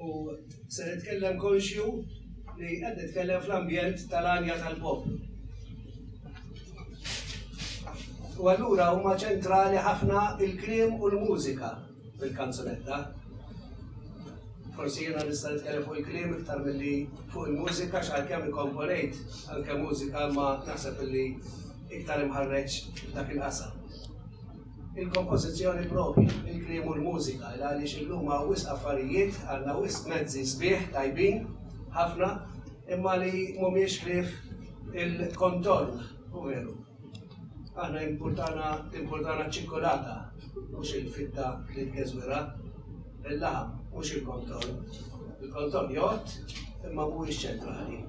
U se nitkellem konxju li qed nitkellem fl-ambjent tal-għanja tal-poplu. U allura huma ċentrali ħafna il-kliem u l-mużika fil-kanzunetta. Forsi jiena nista' nitkellem fuq il-kliem iktar milli fuq il-mużika x'għalkemm ikkomponejt anke mużika ma naħseb li iktar imħarreġ dak il-qasam. il-kompożizzjoni proprja, il-kliem u l-mużika, il għaliex illum hawn wisq affarijiet, għandna wisq mezzi sbieħ, tajbin ħafna, imma li mhumiex ħlief il-kontorn, u veru. Aħna impurtana impurtana ċ-ċikkulata, mhux il-fitta li tgeżwirha, il-laħam, mhux il-kontorn. Il-kontorn jgħodd, imma mhuwiex ċentrali.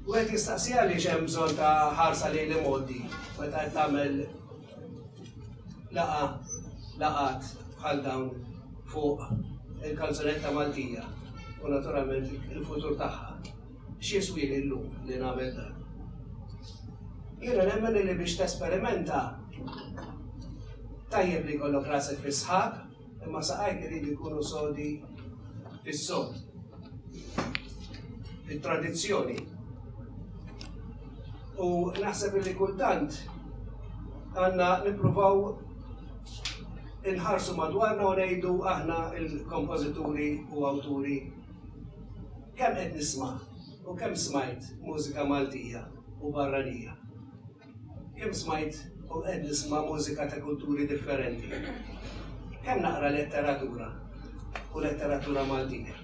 U għed jistaqsi għaliex hemm bżonn ta' ħarsa lejn l-imgħoddi meta qed tagħmel laqa laqat bħal dawn fuq il-kanzunetta Maltija u naturalment il-futur tagħha. X'jiswi llum li nagħmel dan? Jiena nemmen li biex tesperimenta tajjeb li kollok rasek fis-sħab Imma saqajk iridu jkunu sodi fis-sod, fit-tradizzjoni. U naħseb li kultant għandna nippruvaw inħarsu madwarna u ngħidu aħna il-kompożituri u awturi kemm qed nisma' u kemm smajt mużika Maltija u barranija. Kemm smajt u qed nisma' mużika ta' kulturi differenti. Kemm naqra letteratura u letteratura Maltija.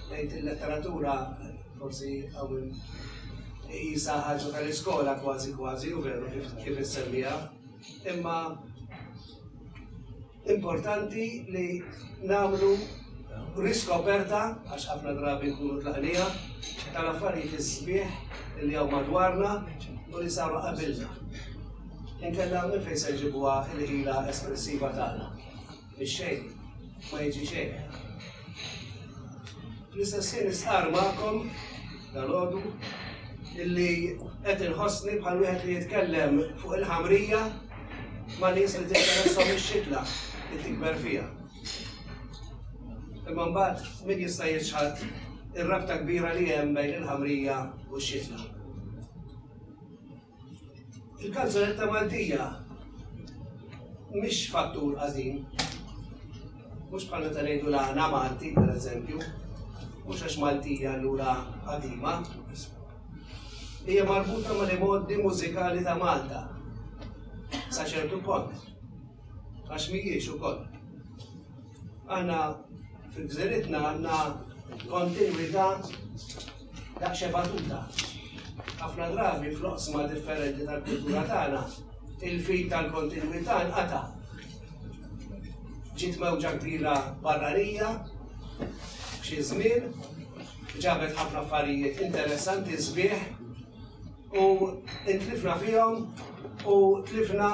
Ngħid il-letteratura forsi hawn iqisha ħaġa tal-iskola kważi kważi u veru kif kif issemmiha, imma Importanti li nagħmlu riskoperta, għax ħafna drabi nkunu tlaqnieha, tal-affarijiet is-sbieħ li hawn madwarna u li saru qabilna. Inkella minn fejn se jġibuha l-ħila espressiva tagħna. Ix-xejn ma jiġi xejn. L-istess ħin nistqar magħkom dal-għodu illi qed inħossni bħal wieħed li jitkellem fuq il-ħamrija ma' nies li tinteresshom ix-xitla li tikber fiha. Imma mbagħad min jista' jiċħad ir-rabta kbira li hemm bejn il-ħamrija u x-xitla? Il-kanzunetta Maltija mhix fattur għażin. Mhux bħal meta ngħidu l-għana Malti, pereżempju, mhux għax Maltija allura qadima, hija marbuta mal-imgħoddi mużikali ta' Malta sa ċertu punt. Għax mhijiex ukoll. Għandna fil-gżiritna għandna kontinwità ta' xebatuta. Ħafna drabi fl-oqsma differenti tal-kultura tagħna, il-fil tal-kontinwità nqata' ġiet mewġa kbira barranija, xi żmien, Ġabet ħafna affarijiet interessanti sbieħ u intlifna fihom u tlifna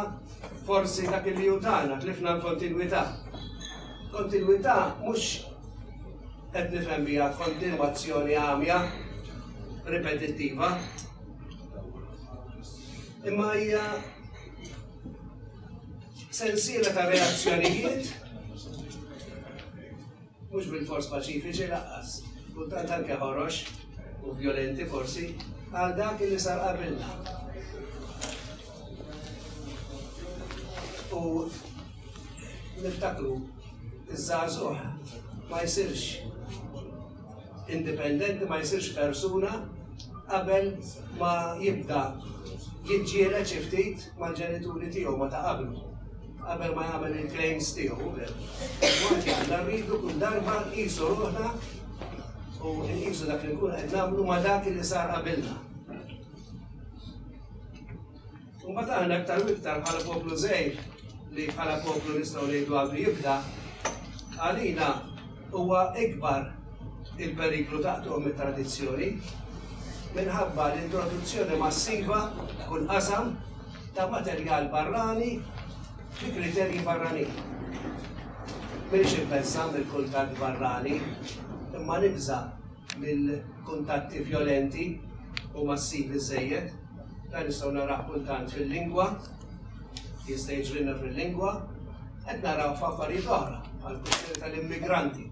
forsi dak li jutana, tlifna l-kontinwità. Kontinwità mhux qed nifhem biha kontinwazzjoni għamja, ripetittiva. Imma hija sensiela ta' reazzjonijiet Mhux bilfors paċifiċi lanqas, kultant anke ħorox u vjolenti forsi, bħal dak li sar qabilna. U niftakru iż-żgħażugħ ma jsirx indipendenti, ma jsirx persuna qabel ma jibda jiġġieled xi ftit mal-ġenituri tiegħu ma ta' qablu, qabel ma jagħmel il-claims tiegħu, għanti għandha rridu kull darba nqisu ruħna u nqisu dak li nkun qed nagħmlu ma dak li sar qabilna. U ma taħna aktar u iktar bħala poplu żejr li bħala poplu nistgħu ngħidu għadu jibda għalina Huwa ikbar il-periklu ta' qtugħ mit-tradizzjoni minħabba l-introduzzjoni massiva f'kull qasam ta' materjal barrani bi kriterji barranin. M'iniex imbeżża' mill-kuntatt barrani, imma nibża' mill-kuntatti vjolenti u massivi żżejjed. Dan nistgħu narawh kultant fil-lingwa, jista' jiġrilna fil-lingwa, qed naraw f'affarijiet oħra bħal kwistjoni tal-immigranti.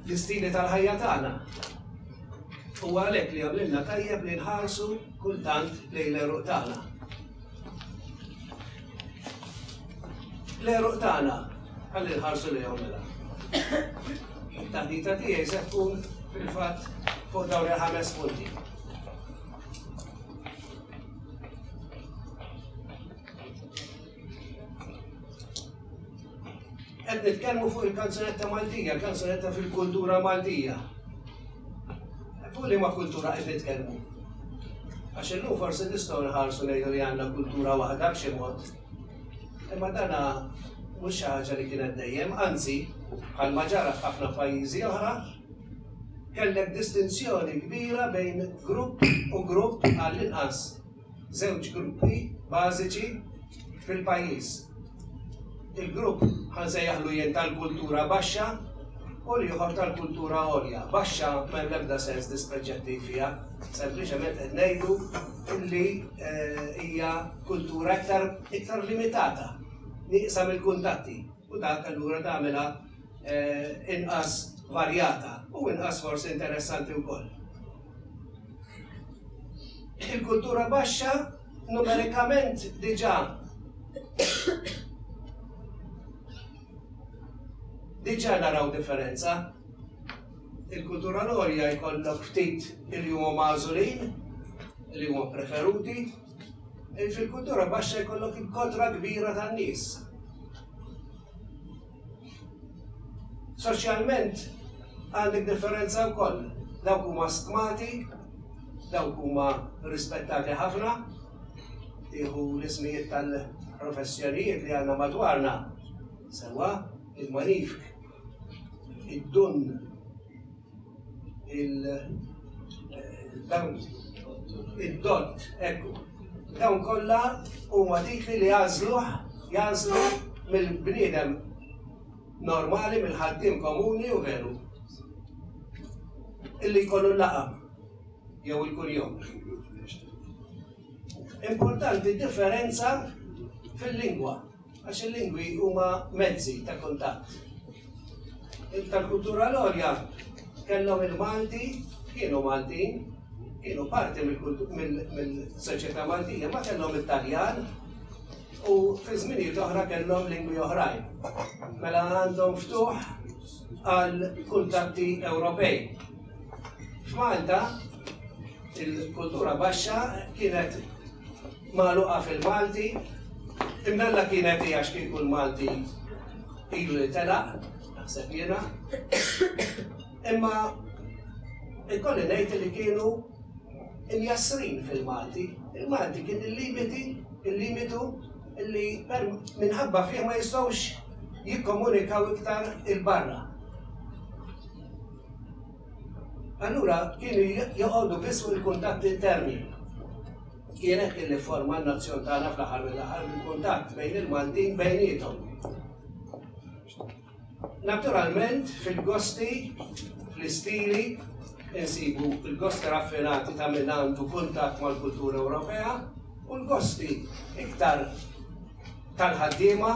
L-istili tal-ħajja tagħna U għalek li għamilna tajjeb li nħarsu kultant lejn l-eruq tagħna. L-għeruq tagħna ħalli nħarsu lejhom mela. Taħdita tiegħi se tkun fil-fatt fuq dawn il-ħames punti. Qed nitkellmu fuq il-kanzunetta Maltija, il-kanzunetta fil-kultura Maltija. Fuq li ma kultura qed nitkellmu. Għax illum forsi nistgħu nħarsu ngħidu li għandna kultura waħda b'xi mod. Imma dana mhux xi ħaġa li kienet dejjem, anzi, bħal ma ġara f'ħafna pajjiżi oħra, kellek distinzjoni kbira bejn grupp u grupp għall-inqas żewġ gruppi bażiċi fil-pajjiż. Il-grupp ħa nsejjaħlu jien tal-kultura baxxa u l-ieħor tal-kultura għolja. Baxxa m'hemm l-ebda sens dispreġġattiv fiha, sempliċement qed ngħidu li eh, hija kultura iktar iktar limitata, nieqsa mill-kuntatti u dak allura tagħmilha eh, inqas varjata u inqas forsi interessanti wkoll. Il-kultura baxxa numerikament diġà diġà naraw differenza. Il-kultura l-għolja jkollok ftit li huma magħżulin, li huma preferuti, fil-kultura baxxa jkollok il-kotra kbira tan-nies. Soċjalment għandek differenza wkoll, dawk huma stmati, dawk huma rispettati ħafna, tieħu l-ismijiet tal-professjonijiet li għandna madwarna, sewwa il-manifk, id-dunn, il-dawn id-dott, ekku. Dawn kollha huma titli li jagħżluh jagħżlu mill-bniedem normali, mill-ħaddiem komuni u veru. Illi jkollu laqa jew il-kunjom. Importanti differenza fil-lingwa. Għax il-lingwi huma mezzi ta' kuntatt. Tal-kultura l-għolja kellhom il-Malti, kienu Maltin, kienu parti mill-soċjetà Maltija, ma kellhom it-Taljan u fi żminijiet oħra kellhom lingwi oħrajn. Mela għandhom ftuħ għal kuntatti Ewropej. F'Malta il-kultura baxxa kienet magħluqa fil-Malti, imbella kienet hi għax kieku l-Malti ilu li telaq, naħseb jiena. Imma ikolli ngħid li kienu imjassrin fil-Malti. Il-Malti kien il-limiti, il-limitu li minħabba fih ma jistgħux jikkomunikaw iktar il-barra. Allura kienu joqogħdu biss fuq il-kuntatt interni. Kienet kien li forma n-nazzjon tagħna fl-aħħar mill-aħħar bil-kuntatt bejn il-Maltin bejnietom. Naturalment fil-gosti, fl-istili, insibu il-gosti raffinati ta' minn għandu kuntatt mal-kultura Ewropea u l-gosti iktar tal-ħaddiema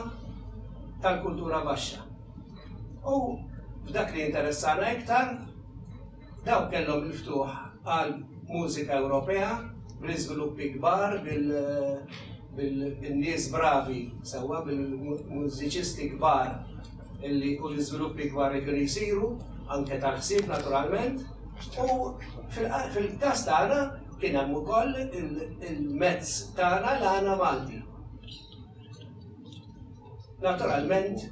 tal-kultura baxxa. U f'dak li jinteressana iktar, dawk kellhom il-ftuħ għal mużika Ewropea bl-iżviluppi kbar, bin-nies bravi sewwa, bil-mużiċisti kbar li u l-iżviluppi kbar li kienu jsiru, anke tal-ħsieb naturalment. U fil-każ tagħna kien hemm ukoll il-mezz tagħna l-għana Malti. Naturalment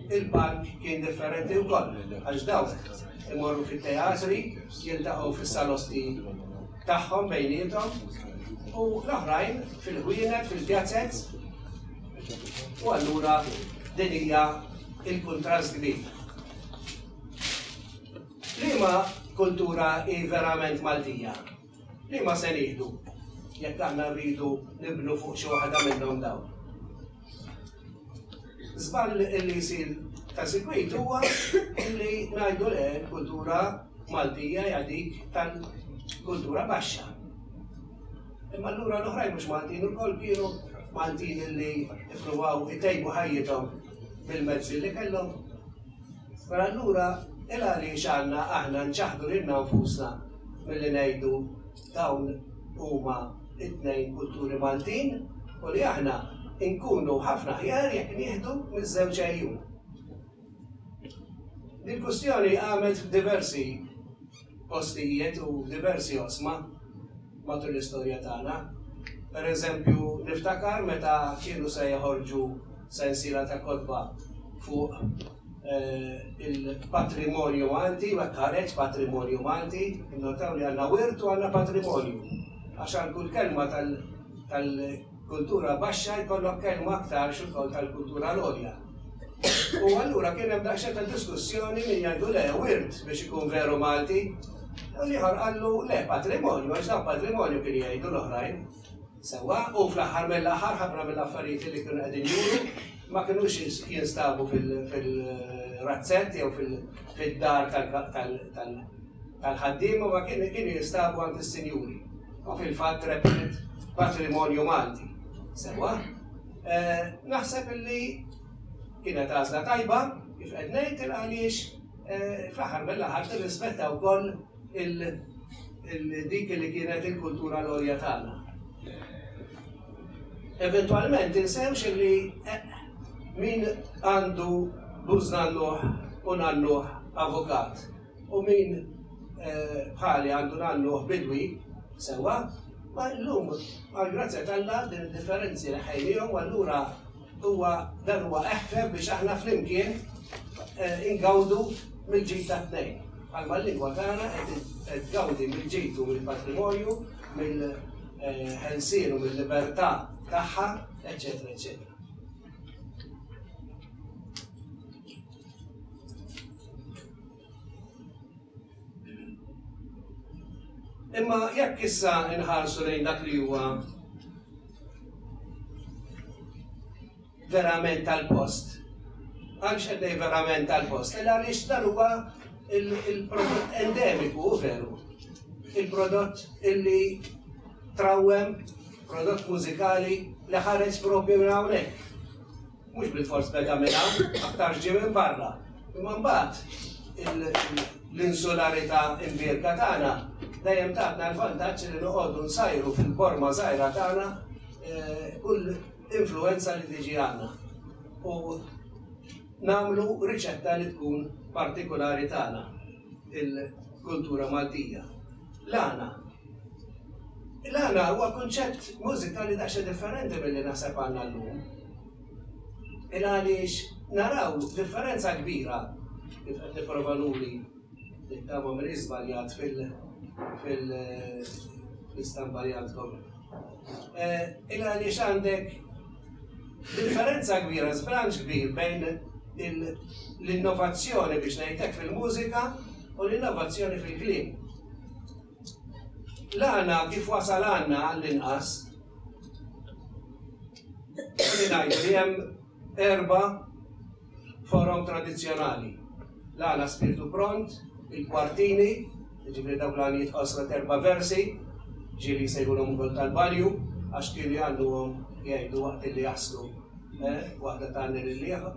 il-palk kien differenti wkoll għax dawk imorru fit-teatri, jiltaqgħu fis-salosti tagħhom bejniethom u l-oħrajn fil-ħwienet, fil-pjazez. U allura din hija il-kuntrast kbir. Liema kultura hi verament Maltija? Liema se nieħdu jekk aħna rridu nibnu fuq xi waħda minnhom dawn? Żball li jsir ta' sikwit huwa li ngħidu le l-kultura Maltija hija dik tal-kultura baxxa. Imma allura l-oħrajn mhux Maltin ukoll kienu Maltin li ippruvaw itejbu ħajjithom bil-mezzi li kellhom. Mela allura il-għaliex għandna aħna nċaħħdu lilna nfusna milli ngħidu dawn huma t-tnejn kulturi Maltin u li aħna nkunu ħafna aħjar jekk nieħdu miż-żewġ għejjun? Dil-kwistjoni qamet f'diversi postijiet u f'diversi oqsma matul l-istorja tagħna. Per eżempju, niftakar meta kienu se joħorġu sensiela ta' kotba fuq il-patrimonju Malti u hekk ħareġ Patrimonju Malti. Innotaw li għandna wirt u għandna patrimonju għax għal kull kelma tal-, kultura baxxa jkollok kelma aktar xogħol tal-kultura l-għolja. U allura kien hemm daqsxejn ta' diskussjoni min jgħidu le wirt biex ikun veru Malti. U l-ieħor qallu le patrimonju għax dan patrimonju kien jgħidu l-oħrajn. Sewwa, u fl-aħħar mill-aħħar ħafna mill-affarijiet li kienu qegħdin juru ma kinux jinstabu fil-razzett jew fid-dar tal-ħaddiema ma kienu jinstabu għand is-sinjuri. u fil-fatt rebħet Patrimonju Malti. Sewwa, naħseb illi kienet għażla tajba kif qed ngħid il għaliex fl-aħħar mill-aħħar tirrispetta wkoll dik li kienet il-kultura l-għolja tagħna. Eventualment insewx li eh, min għandu bużna l-luħ u nalluħ avukat. U min bħali għandu nagħlluh bidwi, sewwa, ma llum għall-grazzja t'Alla din id-differenzi neħħejnihom u allura huwa dan huwa eħfef biex aħna flimkien ingawdu mill-ġid tat-tnejn. Bħalma l-lingwa tagħna qed tgawdi mill-ġid u mill-patrimonju, mill-ħelsien u mil-libertà tagħha, eċċetera, eċċetera. Imma jekk issa inħarsu lejn dak li huwa verament tal-post, għaliex qed ngħid verament tal-post, illa għaliex dan huwa il-prodott endemiku veru. Il-prodott illi trawwem, prodott mużikali li ħares propju minn hawnhekk. Mhux bilfors beda minn hawn, aktarx ġie minn barra. Imma mbagħad l-insularità imbierka tagħna dejjem tatna l-vantaġġ li noqogħdu nsajru fil-borma żgħira tagħna eh, kull influenza li tiġi għandna. U namlu riċetta li tkun partikolari tagħna il-kultura Maltija. L-għana L-għana huwa kunċett mużikali daqsxejn differenti milli naħseb għandna llum. Il għaliex naraw differenza kbira, kif qed nipprova nuri, nittama m'inix żbaljat fil-istampa li għandkom, il għaliex għandek differenza kbira, żbilanċ kbir bejn l-innovazzjoni, biex ngħid hekk, fil-mużika u l-innovazzjoni fil-kliem. L-għana kif wasal għandna għall-inqas li ngħidu li hemm erba' forom tradizzjonali. L-għana Spirtu Pront, il-kwartini, jiġifieri dawk l-għanijiet qosra t'erba' versi, ġieli jsejħulhom ukoll tal-balju għax kienu jgħannuhom jgħidu waqt illi jaslu waħda tgħanni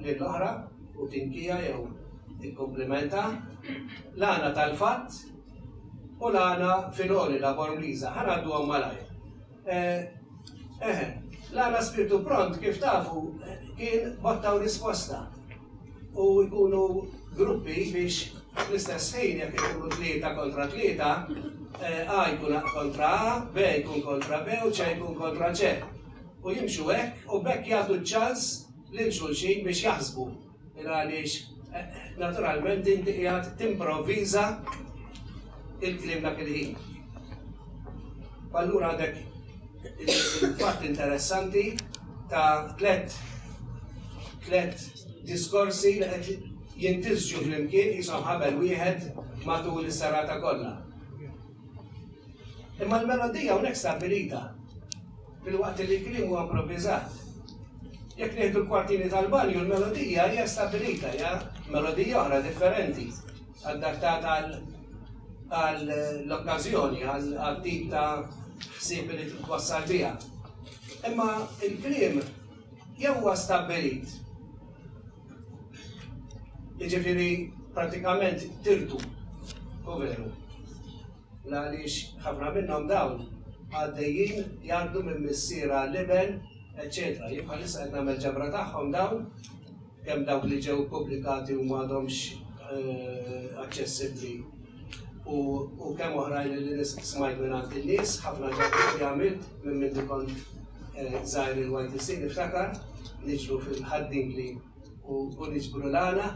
lill-oħra u tinkija jew tikkumplimenta. L-għana tal-fatt. U l-għana filgħoli, l-agħor Ingliża, ħa ngħadduhom malajr. Eh, eħe, l-għana spirtu pront kif tafu kien botta u risposta. U jkunu gruppi biex fl-istess ħin jekk ikunu tlieta kontra tlieta, eh, A jkun kontra A, B jkun kontra B u C jkun kontra C. U jimxu hekk u bekk jagħtu ċans lil xulxin biex jaħsbu. Għaliex naturalment inti qiegħed timprovviża il-kliem dak il-ħin. Allura għandek il-fatt interessanti ta' tlet tlet diskorsi li qed jintisġu flimkien jisom ħabel wieħed matul is-serata kollha. Imma l-melodija hawnhekk stabilita. filwaqt li l-kliem huwa improviżat. Jekk nieħdu l-kwartini tal-banju, l-melodija hija stabilita, hija melodija oħra differenti, adattata għall-okkażjoni, għal-tip ta' ħsieb li twassal biha. Imma il-kliem jew huwa stabbilit. Jiġifieri pratikament tirtu, u veru. Għaliex ħafna minnhom dawn għaddejjin jgħaddu minn missier għal iben, eċċetera. Jien bħalissa qed nagħmel ġabra tagħhom dawn, kemm dawk li ġew pubblikati u m'għadhomx aċċessibbli u kemm oħrajn li smajt minn għand in-nies, ħafna ġabra li għamilt minn minn dikon żgħir il-YTC niftakar, niġru fil-ħaddingli. u niġbru l-għana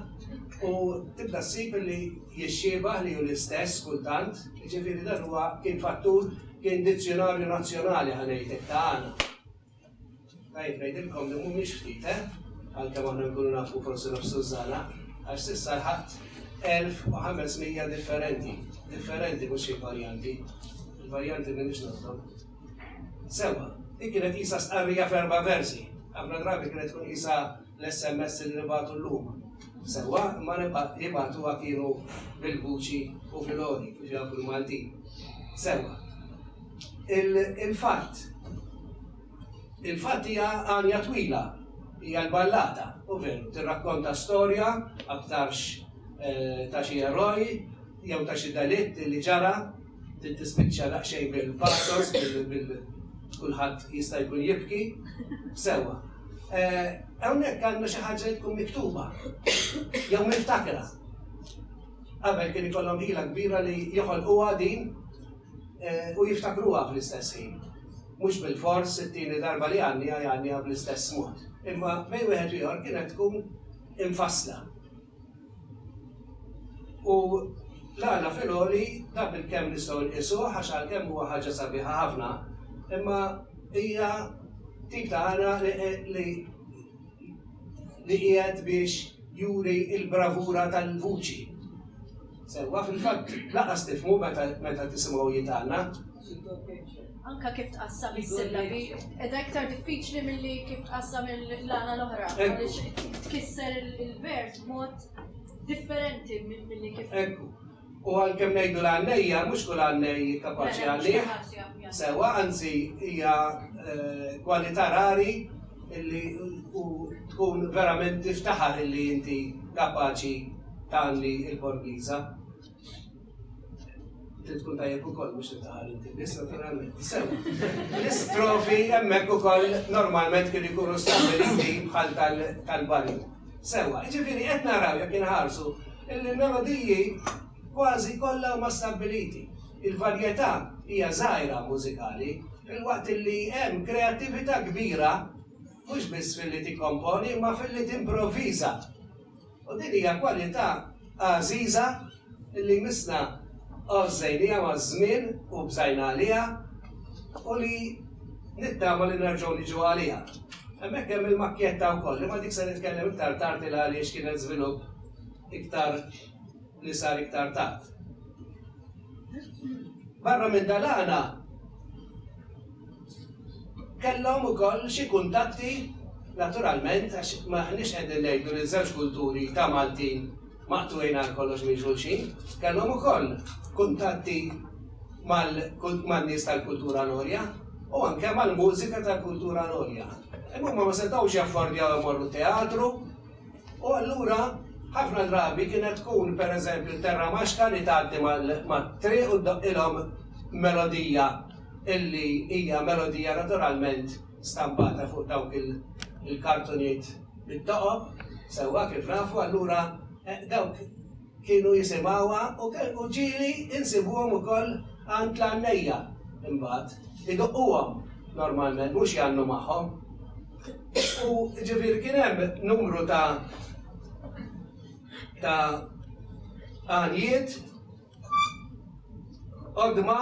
u tibda ssib li jixxiebah li hu l-istess kultant, jiġifieri dan huwa kien fattur kien dizzjunarju nazzjonali ħa ngħidlek ta' għana. Tajjeb ngħidilkom li mhumiex ftit, eh? Għalkemm aħna nkunu nafu forsi naf Sużana, għax s'issa ħadd 1500 differenti, differenti mhux xi varjanti. Il-varjanti m'iniex nafhom. Sewwa, din kienet qisha stqarrija f'erba' versi. Ħafna drabi kienet tkun qisha l-SMS li nibagħtu llum. Sewwa, imma jibagħtuha kienu bil-vuċi u fil-għoli, kif jafu l-Maltin. Sewwa. Il-fatt. Il-fatt hija għanja twila, hija l-ballata, u veru, tirrakkonta storja aktarx ta' xi eroj jew ta' xi delitt li ġara trid tispiċċa daqsxejn bil-pathos, bil kulħadd jista' jkun jibki, sewwa. Eh, hawnhekk għandna xi ħaġa li tkun miktuba, jew miftakra. Qabel kien ikollhom ħila kbira li joħolquha din eh, u jiftakruha fl-istess ħin. Mhux bil-fors it-tieni darba li għandi għandi bl-istess mod. Imma bejn wieħed ieħor kienet tkun imfassla. U l-għana fil-għoli da bil-kemm nistgħu nqisuh għax għalkemm huwa ħaġa sabiħa ħafna, imma hija tip ta' għana li li qiegħed biex juri il-bravura tal-vuċi. Sewwa fil-fatt laqas tifmu meta tisimgħu jitgħanna, Anke kif tqassam is-sillabi qiegħda iktar diffiċli milli kif tqassam il-lana l-oħra għaliex tkisser il-vers b'mod differenti milli kif. Ekku. U għalkemm ngħidu l-għannejja, mhux kull għannej kapaċi għalih. Sewa, anzi hija eh, kwalità rari illi tkun verament tiftaħar illi inti kapaċi tagħmli il-Borgiża. Trid tkun tajjeb ukoll biex titqal inti biss naturalment. Sew. L-istrofi hemmhekk ukoll normalment kien ikunu stabiliti bħal tal-bali. Sewa, ġifieri qed naraw jekk inħarsu il-melodiji kważi kollha huma stabiliti. Il-varjetà hija żgħira mużikali, il-waqt li hemm kreattività kbira mhux biss fil-li tikkomponi, ma fil-li timproviża U din hija kwalità għażiża li jmissna għożżejnieha maż-żmien u bżajna għaliha u li nittama li nerġgħu niġu għaliha. Hemmhekk hemm il-makkjetta wkoll, imma dik se nitkellem iktar tard il-għaliex kienet żvilupp iktar li sar iktar tard. Barra minn dalana kellhom ukoll xi kuntatti naturalment għax maħniex qegħdin ngħidu li żewġ kulturi ta' Maltin maqtuin għal kollox minn xulxin, kellhom ukoll kuntatti mal-nies tal-kultura l-orja u anke mal-mużika tal-kultura l-orja. Imma ma setgħux jaffordjaw imorru teatru, U allura ħafna drabi kienet tkun pereżempju t-terra maċka li tgħaddi mat-triq u ddoqqilhom melodija illi hija melodija naturalment stampata fuq dawk il-kartuniet bit-toqob, sewwa kif nafu allura dawk Kienu jisimgħuha u ġieli nsibuhom ukoll għand l-għannejja imbagħad. Idoqquhom normalment, mhux jgħannu magħhom. U ġifieri kien hemm numru ta' ta' għanjiet qodma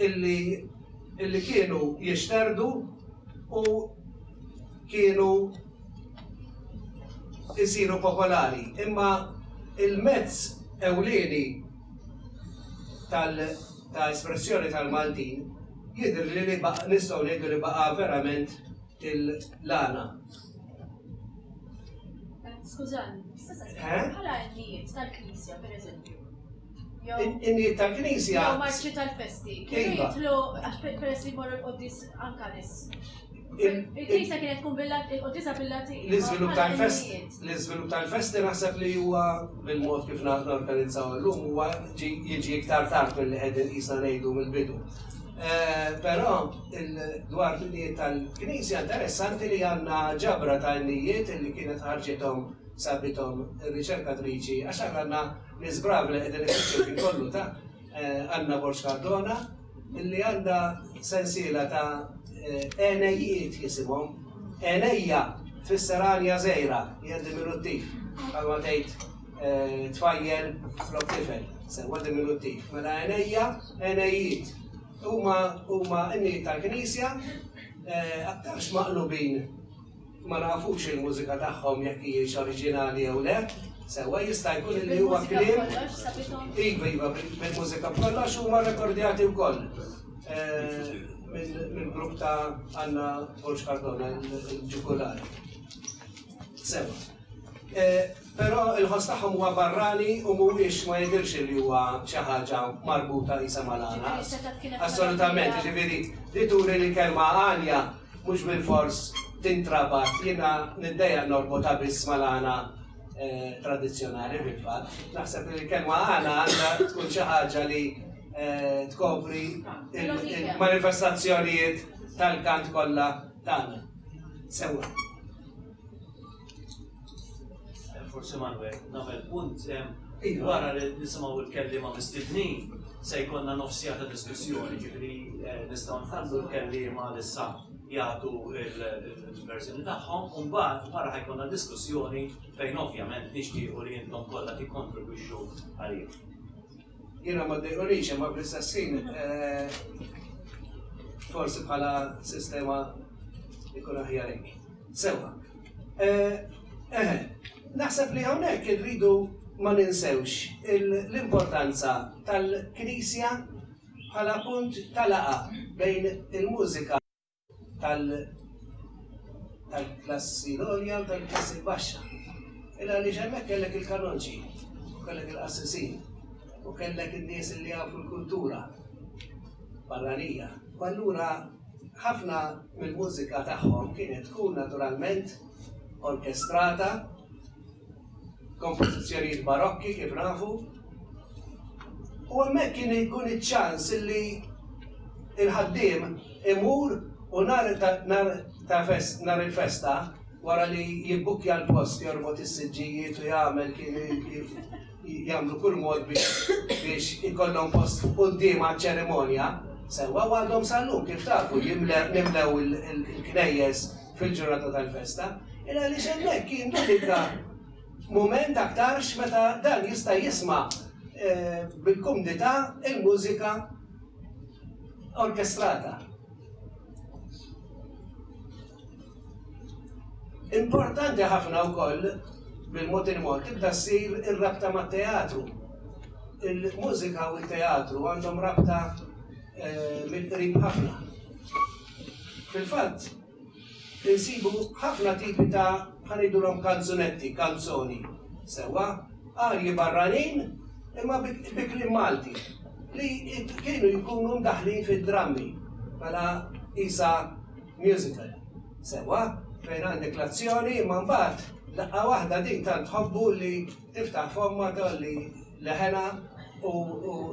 illi illi kienu jixterdu u kienu isiru popolari, imma il-mezz ewlieni ta' espressjoni tal-Maltin jidhirli li nistgħu ngħidu li baqa' verament il-lana. Skużani, bħala għennijiet tal-Knisja, pereżempju, in-niet tal-Knisja. Jew marċi tal-festi. Kienu iva. jitlu għax peress li morru l-qoddis anka nis. Il-Knisja kienet tkun il-qoddisa bil-Latin. L-iżvilupp tal-festi. L-iżvilupp tal-festi naħseb li huwa bil-mod kif naħna organizzaw l-lum huwa jiġi iktar tard mill-li qegħdin jisna ngħidu mill-bidu. Eh, però dwar l-nijiet tal-Knisja interessanti li għandna ġabra tal-nijiet li kienet ħarġithom sabitom riċerkatriċi għax għandna L-iżbrav li qegħdin ifittxu ħin kollu ta' Anna Borg Cardona li għandha sensiela ta' għenejjiet jisimhom. Għenejja tfisser għanja żgħira, hija diminuttiv, bħalma tgħid tfajjel flok tifel, sewwa diminuttiv. Mela għenejja, għenejjiet. Huma huma n-niet tal-Knisja aktarx maqlubin ma nafux il-mużika tagħhom jekk hijiex oriġinali jew le, sewwa jista' jkun li huwa kliem. Iva, iva, bil-mużika b'kollox huma rekordjati wkoll. Eh, minn grupp ta' Anna Borġ Cardona, il-ġugular. Sewwa. Però l-ħoss tagħhom huwa barrani u mhuwiex, ma jidhirx li huwa xi ħaġa marbuta qisha mal-għana. Assolutament, jiġifieri li turi li l-kelma għanja mhux bilfors tintrabat, jiena niddejjaq norbotha biss mal-għana tradizzjonali fil-fatt. Naħseb li l-kelma għana għandha tkun xi ħaġa li tkopri l-manifestazzjonijiet tal-kant kollha tagħna. Sewwa. Forsi Manuel, nagħmel punt wara li nisimgħu l-kelliema mistednin se jkollna nofsija ta' diskussjoni, ġifieri eh, nistgħu nħallu l-kelliema li sa jagħtu l-verżjoni tagħhom, u mbagħad wara ħajkollna diskussjoni fejn ovvjament nixtiequ li intom kollha tikkontribwixxu għalih. Jiena ma ddejqunix imma fl-istess ħin forsi bħala sistema jkun aħjar hekk. Sewwa. Eħe, naħseb li hawnhekk irridu ma ninsewx l-importanza tal-Knisja bħala punt tal-laqa bejn il-mużika tal-klassi l-għolja u tal-klassi l-baxxa. Illa li ġemmek kellek il-kanonċi, kellek il-qassisin, u kellek il-nies li għafu l-kultura barranija. U allura ħafna mill-mużika tagħhom kienet tkun naturalment orkestrata kompożizzjonijiet barokki kif nafu. U hemmhekk kien jkun iċ-ċans li il-ħaddiem imur u nar ta' fest nar il-festa wara li jibbukkja l-post jorbot is-siġġijiet u jagħmel kien jagħmlu kull mod biex ikollhom post fuq quddiem ċerimonja Sewwa għadhom sallum kif tafu jimlew il-knejjes fil-ġurnata tal-festa, il għaliex hemmhekk jindubika mument aktarx meta dan jista' jisma' bil-kumdità il-mużika orkestrata. Importanti ħafna wkoll bil-mod il-mod tibda ssir ir-rabta mat-teatru. Il-mużika u t-teatru għandhom rabta mill-qrib ħafna. Fil-fatt, insibu ħafna tipi ta' ħa ngħidulhom kanzunetti, kanzoni, sewwa, arji barranin imma bi kliem Malti, li kienu jkunu mdaħħlin fid-drammi bħala qisha musical, sewwa, fejn għandek l-azzjoni imma mbagħad daqqa waħda din tant tħobbu li Tiftaħ fommha, tgħolli leħenha u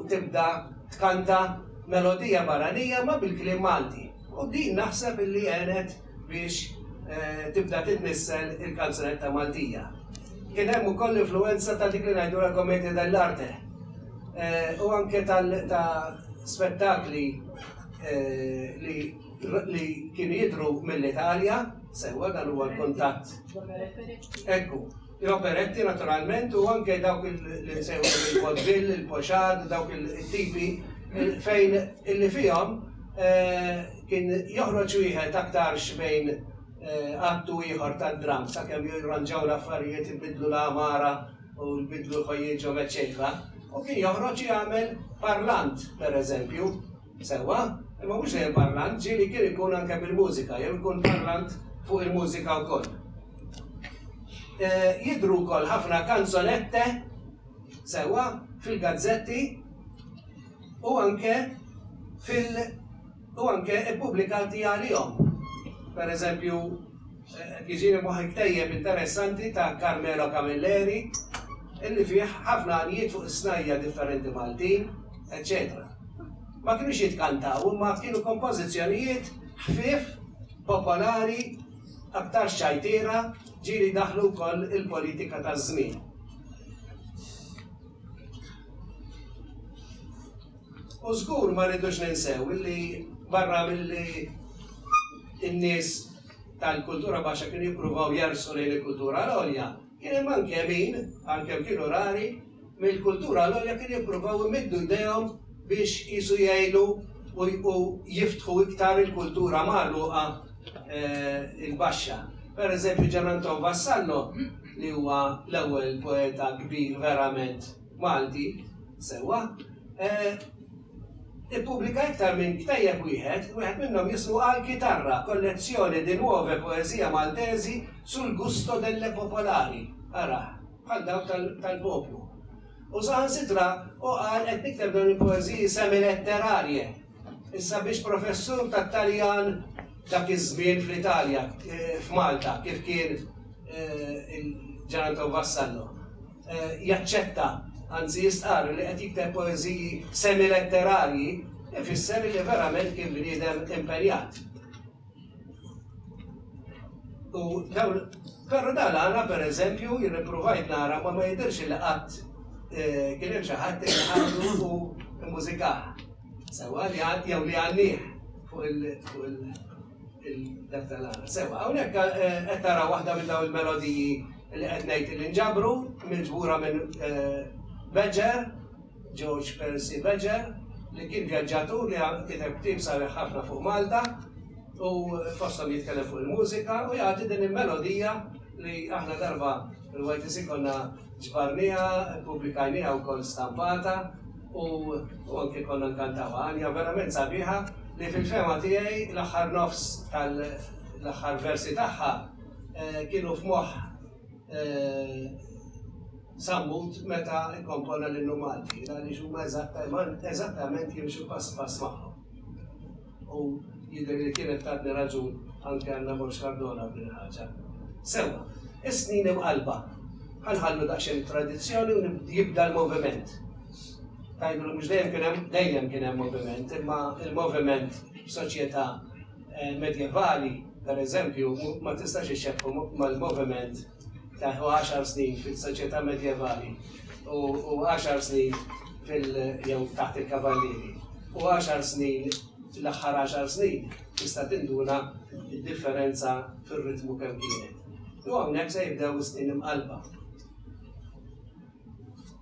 tibda tkanta melodija barranija imma bil-kliem Malti. U din naħseb illi għenet biex tibda titnissel il-kanzunetta Maltija. Kien hemm ukoll l-influwenza ta' dik li ngħidu la commedia dell'arte u anke ta' spettakli li kienu jidhru mill-Italja, sewwa dan huwa l-kuntatt. Ekku. l-operetti naturalment u anke dawk li nsejħulhom il-vaudeville, il-pochade, dawk it-tipi fejn illi fihom kien joħroġ wieħed aktarx bejn att u ieħor tad-dramm sakemm jirranġaw l-affarijiet, ibiddlu l-għamara u jbiddlu ħwejjiġhom eċċetera u kien joħroġ jagħmel parlant, pereżempju. Sewwa, imma mhux dejjem parlant, ġieli kien ikun anke bil-mużika jew ikun parlant fuq il-mużika wkoll. Jidhru wkoll ħafna canzonette, sewwa, fil-gazzetti u anke fil- u anke ppubblikati għalihom. Per eżempju, Qed jiġini f'moħħi ktejjeb interessanti ta' Carmelo Camilleri illi fih ħafna għanjiet fuq is-snajja' differenti Maltin, eċċetera Ma kinux jitkantaw imma kienu kompożizzjonijiet ħfief, popolari, aktarx ċajtiera, ġieli daħlu wkoll il-politika taż-żmien. U żgur ma rridux ninsew illi barra milli n-nies tal-kultura baxxa kienu jippruvaw jersqu lejn il-kultura l-għolja, kien hemm anke min, għalkemm kienu rari, mill-kultura l-għolja kienu jippruvaw imiddu jdejhom biex qisu jgħinu u jiftħu iktar il-kultura magħluqa l-baxxa. Per eżempju, Gian Anton Vassallo, li huwa l-ewwel poeta kbir verament, Malti, sewwa, ippubblika iktar minn ktejjeb wieħed, wieħed minnhom jismu Al Kitarra, Collezione di nuove poesie maltesi sul gusto delle popolari, ara, bħal dawk tal-poplu. U saħansitra hu qal qed nikteb dawn il-poeżiji semi-letterarje. Issa biex professur tat-Taljan dak iż-żmien fl-Italja, eh, f'Malta, kif kien eh, il-Ġeranton Vassallo. jaċċetta, anzi jistqarr li qed jikteb poeżiji semi-letterarji, ifisser li verament kien bniedem impenjat. U dawn, però dan għana per eżempju, jirriprovajt nara ma ma jidirx li qatt eh, kien hemm xi ħadd li għandu u mużikaħ. Sewa li għad jew li għannih fuq il- dak tal-għana. Sewa, hawnhekk eh, qed tara waħda minn dawn il-melodiji li qed ngħid li nġabru mill-ġbura minn eh, Badger, George Percy Badger, li kien vjaġġatur li kiteb tim sabiħ ħafna fuq Malta u fostom jitkellem fuq il-mużika u jagħti din il-melodija li aħna darba l-YTC konna ġbarnija, publikajnija u kol stampata U anke konna nkantawha. Għanja verament sabiħa li fil-fehma tiegħi l-aħħar nofs tal-aħħar versi tagħha kienu f'moħħ Sammut meta kkompona l-Innu Malti, għaliex huma eżattament jimxu pass pass magħhom. U jidher li kienet tatni raġun anke Anna Borg Cardona f'din il-ħaġa. Sewwa, is-snin imqallba. Ħa nħallu daqsxejn it-tradizzjoni u jibda l-moviment. Tgħidu li mhux dejjem kien hemm, dejjem kien hemm moviment, imma l-moviment f'soċjetà medjevali, pereżempju, ma tistax ixxebbhu mal-moviment ta' u għaxar snin fis-soċjetà medjevali u u għaxar snin fil jew taħt il-kavallieri u għaxar snin l-aħħar għaxar snin tista' tinduna d-differenza fir-ritmu kemm kienet. U hawnhekk se jibdew is-snin imqallba.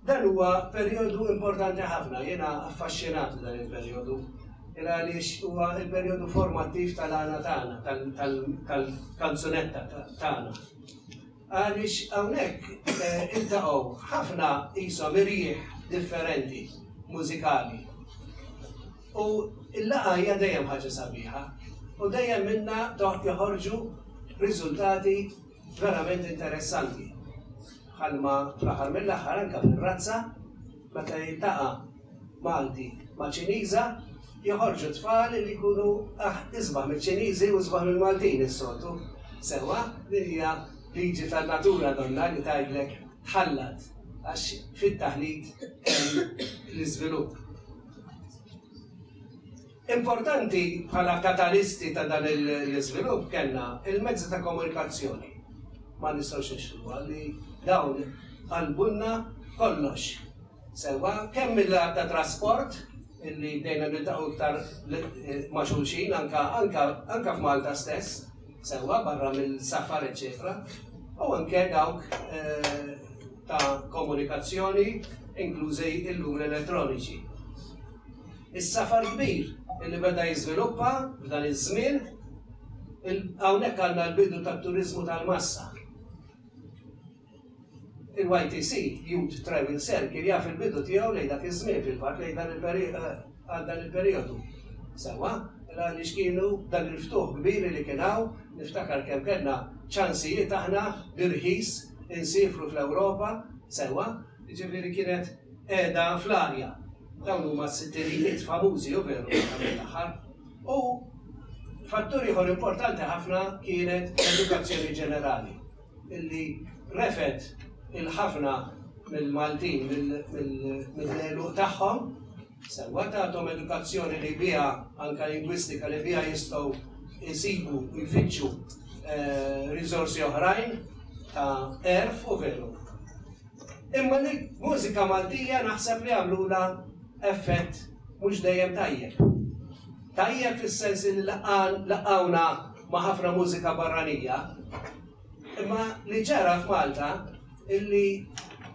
Dan huwa perjodu importanti ħafna, jiena affaxxinat f'dan il-perjodu. Il għaliex huwa il-perjodu formattiv tal-għana tagħna, tal-kanzunetta tagħna. Għaliex hawnhekk eh, iltaqgħu ħafna qishom irjieħ differenti mużikali. U l-laqa hija dejjem ħaġa sabiħa u dejjem minna toħt joħorġu riżultati verament interessanti. Bħalma fl-aħħar mill-aħħar anke fir-razza, meta jiltaqa' Malti ma' Ċiniża, joħorġu tfal li jkunu isbaħ miċ-Ċiniżi u isbaħ mill-Maltin is-soltu. Sewwa, din hija liġi tan-natura donnha li tgħidlek tħallat għax fit-taħlit hemm l-iżvilupp. Importanti bħala katalisti ta' dan l-iżvilupp kellna l-mezzi ta' komunikazzjoni. Ma nistgħux nixħduha li dawn qalbulna kollox sewwa, kemm mill-lat ta' trasport, illi bdejna niltaqgħu iktar ma' xulxin anke anke f'Malta stess sewwa barra mill-safar eċċetera, u anke dawk ta' komunikazzjoni inklużi l-lum l-elettroniċi. Is-safar kbir li beda jiżviluppa f'dan iż-żmien, hawnhekk għandna l-bidu tat-turiżmu tal-massa. Il-YTC, Youth Travel Circle, jaf il-bidu tiegħu lejn dak iż-żmien, fil-fatt lejn dan għal dan il-perijodu. Sewwa, għaliex kienu dan il-ftuħ kbir li kien hawn, niftakar kemm kellna ċansijiet aħna bi rħis insiefru fl-Ewropa, sewwa, Jiġifieri kienet qiegħda fl-arja. Dawn huma s-sittinijiet famużi u veru fl-aħħar mill-aħħar. U fattur ieħor importanti ħafna kienet l-edukazzjoni ġenerali illi refgħet 'il ħafna mill-Maltin mill-għeluq tagħhom. Sewwa tagħthom edukazzjoni li biha, anke lingwistika, li biha jistgħu jsibu u jfittxu riżorsi oħrajn ta' għerf u veru. Imma li mużika Maltija naħseb li għamlula effett mhux dejjem tajjeb. Tajjeb fis-sens li laqgħuna ma' ħafna mużika barranija, imma li ġara f'Malta illi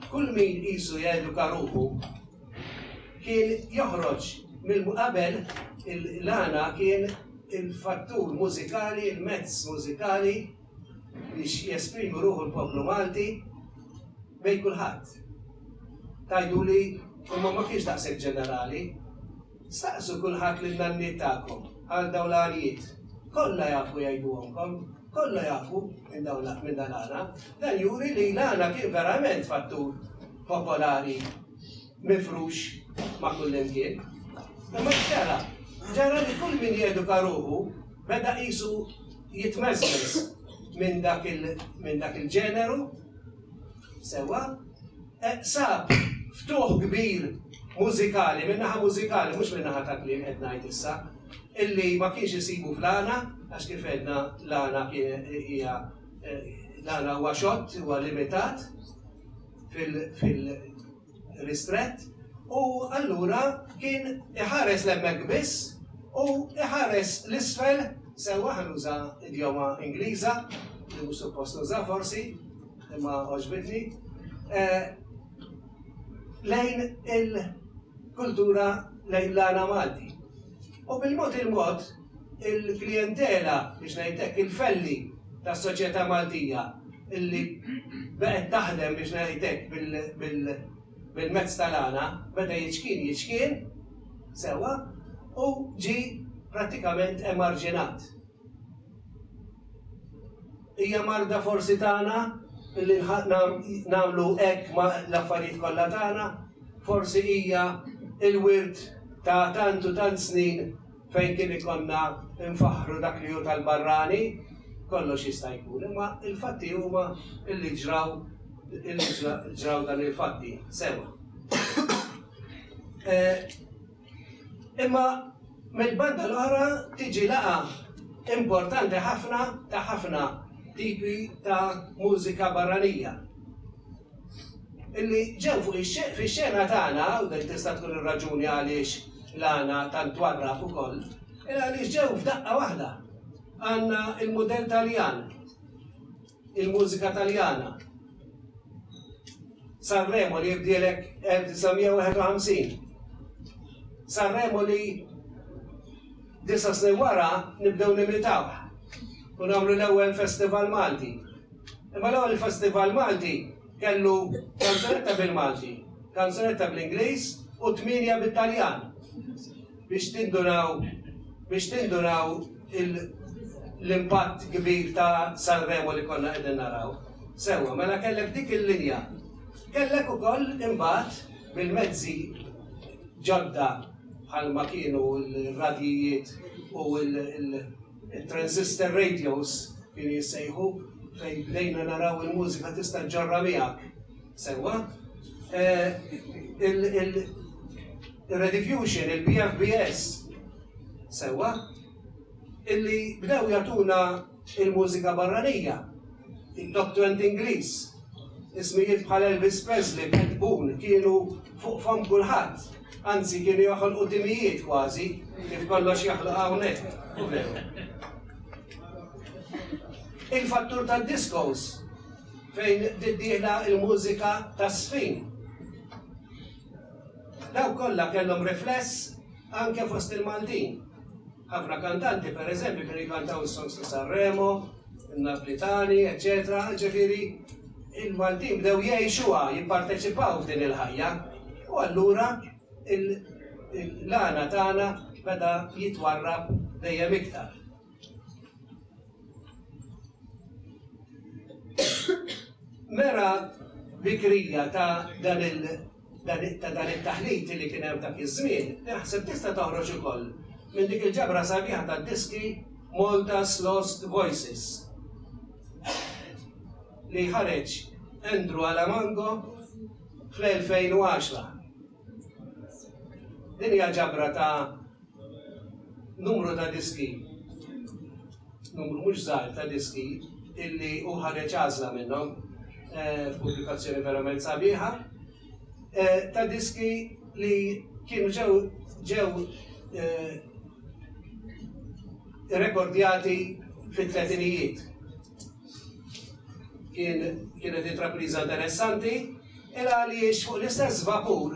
kull min qisu jeduka ruħu kien joħroġ mill-qabel l-għana kien il-fattur mużikali, il-mezz mużikali biex jesprimu ruħu l-poplu Malti bej kulħadd. Tajdu li imma ma kienx daqshekk ġenerali, Staqsu kulħadd lin-nanniet tagħkom għal dawn l-għanijiet. Kollha jafu jgħiduhomkom. Kollha jafu minn dawn l-, minn dan l-għana. Dan juri li l-għana kien verament fattur popolari mifrux ma' kullimkien. Imma x'ġara? Ġara li kull min jeduka ruħu beda qisu jitmeżmeż minn dak il-ġeneru, sewwa, Sab ftuħ kbir mużikali, min-naħa mużikali, mhux min-naħa ta' kliem qed ngħid issa, illi ma kienx isibu fl-għana, għax kif għedna l-għana hija l-għana huwa xott, huwa limitat fil-ristrett, u allura kien iħares l-emmek biss u iħares l-isfel sewa ħanuża idjoma Ingliża, li mhux suppost nuża forsi, Imma għoġbitni lejn il-kultura lejn l-għana Malti. U bil-mod il-mod il-klientela biex ngħidlek il-felli tas-soċjetà Maltija illi baqgħet taħdem biex ngħidlek bil-mezz tal-għana beda jiċkien jiċkien sewwa u ġie prattikament emarġinat. Hija marda forsi tagħna li nagħmlu hekk ma' l-affarijiet kollha tagħna, forsi hija il-wirt ta' tant u tant snin fejn kien ikollna nfaħħru dak li hu tal-barrani, kollox jista' jkun, imma l-fatti huma li ġraw li ġraw dan il-fatti. Sewa. Eh, Imma mill-banda l-oħra tiġi laqgħa importanti ħafna ta' ħafna tipi ta' mużika barranija. Illi ġew fuq ix-xena tagħna, u dik tista' tkun ir-raġuni għaliex l-għana tant twarrab ukoll, għaliex ġew f'daqqa waħda. Għandna l-mudell Taljan, il-mużika Taljana. Sanremo li jibdielek 1951. Sanremo li disa snin wara nibdew nimitaw u nagħmlu l-ewwel festival Malti. Imma l-ewwel festival Malti kellu kanzunetta bil-Malti, kanzunetta bl-Ingliż u tminja bit-Taljan. biex tinduraw biex tinduraw l-impatt kbir ta' Sanremo li konna qegħdin naraw. Sewwa, mela kellek dik il-linja. Kellek ukoll imbagħad bil-mezzi ġodda bħal ma kienu l-radijiet u l-transistor radios kienu jissejħu fejn bdejna naraw il-mużika tista' ġorra miegħek Sewwa, il-rediffusion, il-PFBS, sewwa, illi bdew jagħtuna il-mużika barranija, il-doctrant Ingliż, ismijiet bħal Elvis Presley, Pat Boone, kienu fuq fam kulħadd, anzi kienu joħolqu timijiet kważi, kif kollox jaħloq hawnhekk. Il-fattur tad-diskos Fejn tittieħla l-mużika taż-żfin? Dawk kollha kellhom rifless anke fost il-Maltin. Ħafna kantanti, per eżempju, kienu jkantaw is-songs ta' San Remo, in-Naplitani, eċċetera, ġifieri il-Maltin bdew jgħixuha, jipparteċipaw f'din il-ħajja. U allura l-għana tagħna beda jitwarrab dejjem iktar. Mera bikrija ta' dan il ta' dan it-taħlit li kien hemm dak iż-żmien, naħseb tista' toħroġ ukoll minn dik il-ġabra sabiħa tad-diski Malta's Lost Voices li ħareġ Andrew Alamango fl-2010. Din hija ġabra ta' numru ta' diski, numru mhux żgħar ta' diski illi hu ħareġ għażla minnhom eh, f'pubblikazzjoni verament sabiħa, eh, ta' diski li kienu ġew ġew eh, rekordjati fit-tletinijiet. Kien kienet intrapriża interessanti il għaliex fuq l-istess vapur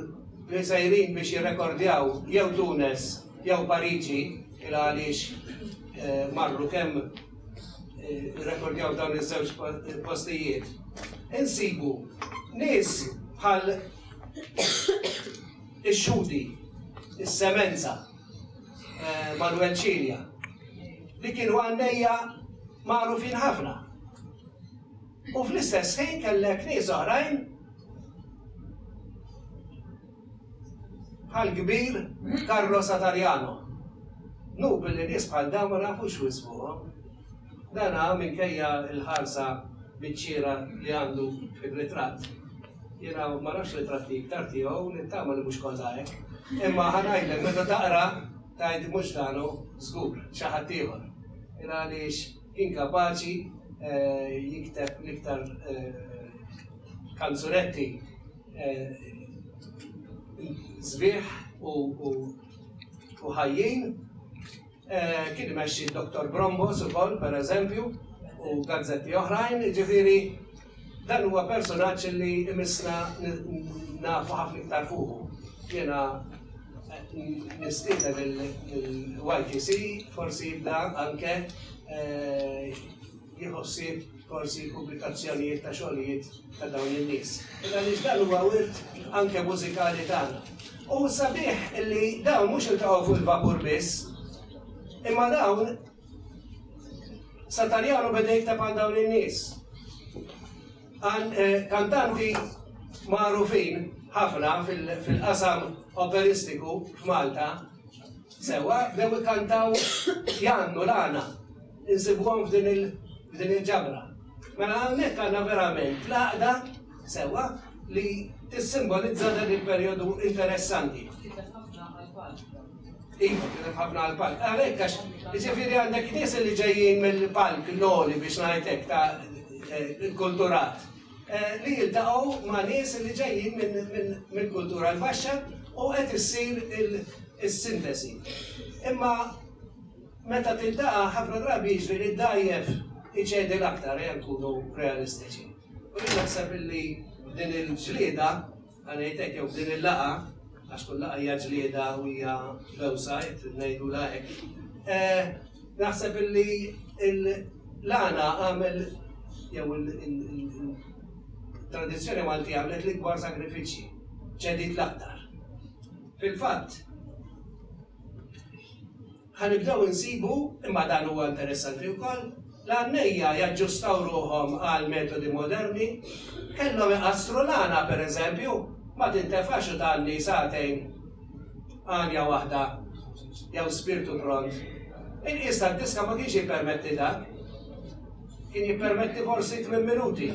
li sejrin biex jirrekordjaw jew Tunes jew Pariġi il għaliex eh, marru kemm eh, rekordjaw dawn iż-żewġ postijiet. Insibu nies bħal ix-xudi, is-semenza, eh, Manuel Cilia, li kienu għannejja magħrufin ħafna. U fl-istess ħin kellek nies oħrajn bħal kbir Carlo Satariano. Nu billi nies bħal dawn ma nafux wisfuhom. Dana minkejja l-ħarsa biċċiera li għandu fir-ritratt. Jiena ma nafx ritratti iktar tiegħu, nittama li mhux kollha hekk. Imma ħa ngħidlek meta taqra tgħid mhux dan hu żgur, xi ħadd ieħor. Jiena għaliex kien kapaċi jikteb l-iktar kanzunetti sbieħ u ħajjin. Kien imexxi d-Dottor Brombos ukoll, per eżempju, u gazzetti oħrajn, jiġifieri dan huwa personaġġ li imissna nafu ħafna iktar fuqu. Jiena nistieden lill-YTC forsi jibda anke jieħu ħsieb forsi l-pubblikazzjonijiet ta' xogħlijiet ta' dawn in-nies. Għaliex dan huwa wirt anke mużikali tagħna. U sabiħ li dawn mhux iltaqgħu fuq il-vapur biss, imma dawn Satarjano beda jikteb għal dawn in-nies. Eh, kantanti magħrufin ħafna fil-qasam operistiku f'Malta Sewwa bdew ikantaw Jannu l-għana insibuhom f'din il-ġabra. Mela hawnhekk għandna verament l-għaqda sewwa li tissimbolizza dan il-perjodu interessanti. Kiteb ħafna għall-palk. Iva, kiteb ħafna għall-palk. Għalhekk għax jiġifieri għandek nies li ġejjin mill-palk l-għoli biex ngħidlek ta' kulturat. li jiltaqgħu ma' nies li ġejjin minn kultura l-baxxa u qed issir is-sintesi. Imma meta tiltaqa' ħafna drabi jiġri li d-dgħajjef iċedi l-aktar, ejja nkunu realistiċi. U jien naħseb li din il-ġlieda Ħa ngħid hekk jew f'din il-laqgħa, għax kull laqgħa hija ġlieda u hija bewsa, jekk trid ngħidulha hekk, naħseb illi l-għana għamel jew il-tradizzjoni Malti għamlet l-ikbar sagrifiċċji, ċedit l-aktar. Fil-fatt, Ħa nibdew insibu, imma dan huwa interessanti wkoll, l-għannejja jaġġustaw ruħhom għal metodi moderni. Kellhom iqassru l-għana, per eżempju, ma tintefax u tgħanni sagħtejn għanja waħda jew spirtu pront. Il-qies tad-diska ma kienx jippermetti dan. Kien jippermetti forsi tmien minuti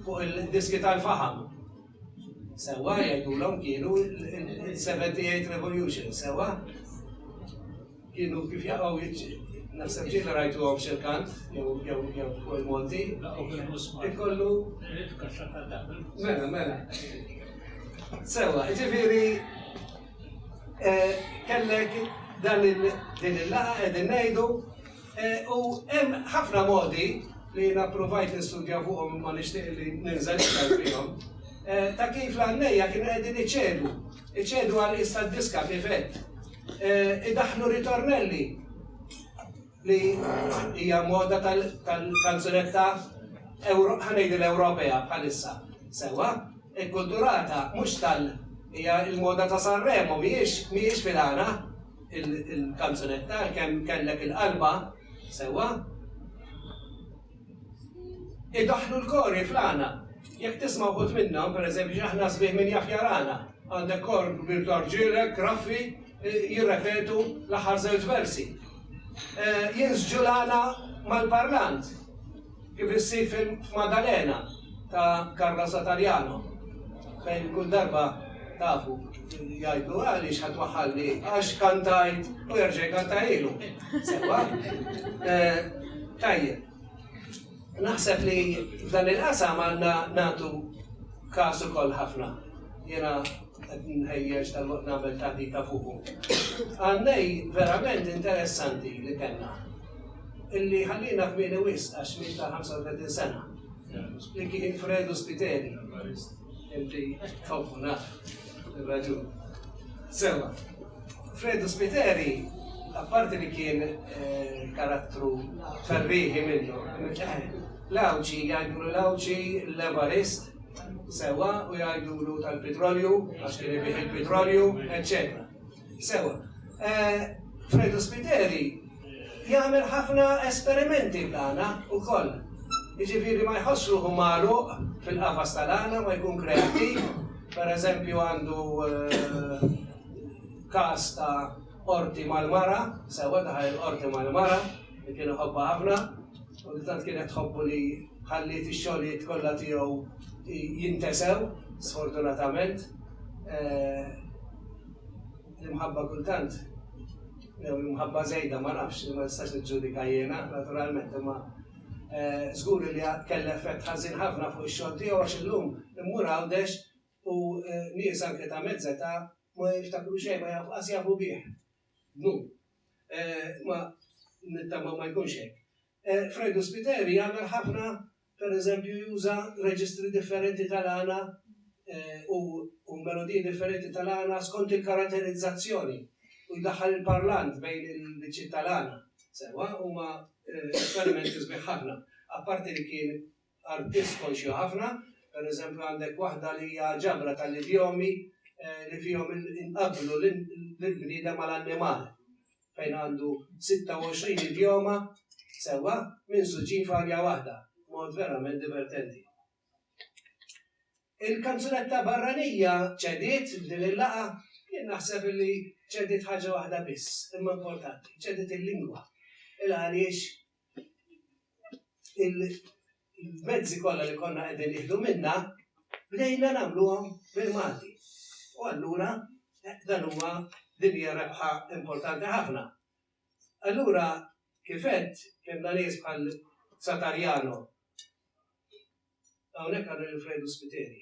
fuq il-diski tal-faħam. Sewwa jgħidulhom kienu il-78 Revolution, sewwa? Kienu kif jaqgħu naħseb ġieli rajtu għom xil-kant, jew jew jew fuq il-Monti. Ikollu. Mela, mela. Sewwa, ġifieri eh, kellek dan il-laqa qegħdin ngħidu U hemm ħafna modi li jiena provajt nistudja fuqhom imma nixtieq li ninżel iktar fihom, eh, ta' kif l-għannejja kienu qegħdin iċedu, iċedu għal issa diska kif qed. Eh, idaħlu ritornelli li hija moda tal-kanzunetta ħanejdu l-Ewropea bħalissa. Sewa, ikkulturata mhux tal hija l-moda ta' Sanremo mhijiex mhijiex filana. il-kanzunetta għalkemm kellek il-qalba sewwa. Idaħlu l-kori fl-għana. Jekk tisma' wħud minnhom, pereżempju, aħna sbieħ minn jaf jarana. Għandek kor kbir tarġielek, raffi, jirrepetu l-aħħar żewġ versi. Jinsġu l-għana mal-parlant. Kif issir f'Maddalena ta' Carla Satariano fejn kull darba tafu jgħidlu għaliex ħa twaħħalni għax kantajt u jerġa' jkantajlu. Sewa? Eh, tajjeb. Naħseb li f'dan il-qasam għandna nagħtu każ ukoll ħafna. Jiena Qed nħejjeġ tal waqt nagħmel taħdita fuqu. Għannejn verament interessanti li kellna. Illi ħalliena kmieni wisq għax miet ta' 35 sena. Li kien Fredu Spiteri. Inti tħobbu naf ir-raġun. Sewa. Fredu Spiteri apparti li kien eh, karattru ferriħi minnu, l-għawċi, jgħidlu l-għawċi l-Evarist, Sewa, u jgħidulu tal-pitrolju, għax kien ibih il-pitrolju, eccetera. Sewa. Eh, Fredo Spiteri jagħmel ħafna esperimenti bl-għana u koll. Iġifiri ma jħossru hu malu fil-qafas tal-għana ma jkun kreativ, per eżempju għandu eh, kas ta' orti mal-mara, sewa daħal orti mal-mara, li kien iħobbha ħafna u li tant kienet tħobbu li ħalliet ix-xogħlijiet kollha tiegħu jintesew, sfortunatament. L-imħabba kultant, jew l-imħabba żejda ma nafx, ma nistax niġġudika jiena, naturalment, imma żgur li kellha effett ħażin ħafna fuq ix-xogħol tiegħu għax illum immur Għawdex u nies anke ta' mezz età ma jiftakru xejn, ma jaf, qas jafu bih. Dnub. Imma nittama ma jkunx hekk. Fredu Spiteri jagħmel ħafna, pereżempju juża reġistri differenti tal-għana u melodiji differenti tal-għana skont il-karatterizzazzjoni u jdaħħal il-parlant bejn il-biċċiet tal-għana. Sewwa, huma esperimenti sbieħ ħafna, apparti li kien artists konxju ħafna, per eżempju għandek waħda li hija ġabra tal-idjomi li fihom inqabblu lill-bniedem mal-annimal fejn għandu 26 idjoma sewwa minsuġin f'arja waħda, mod verament divertenti. Il-kanzunetta barranija ċediet f'din il-laqa jien naħseb li ċediet ħaġa waħda biss, imma importanti, ċediet il-lingwa. Il-għaliex il-mezzi kollha li konna qegħdin nieħdu minna bdejna nagħmluhom bil-Malti. U allura eh, dan huwa din hija rebħa importanti ħafna. Allura kifet kellna nies bħal Satarjano. Hawnhekk għandu l-Fredu Spiteri.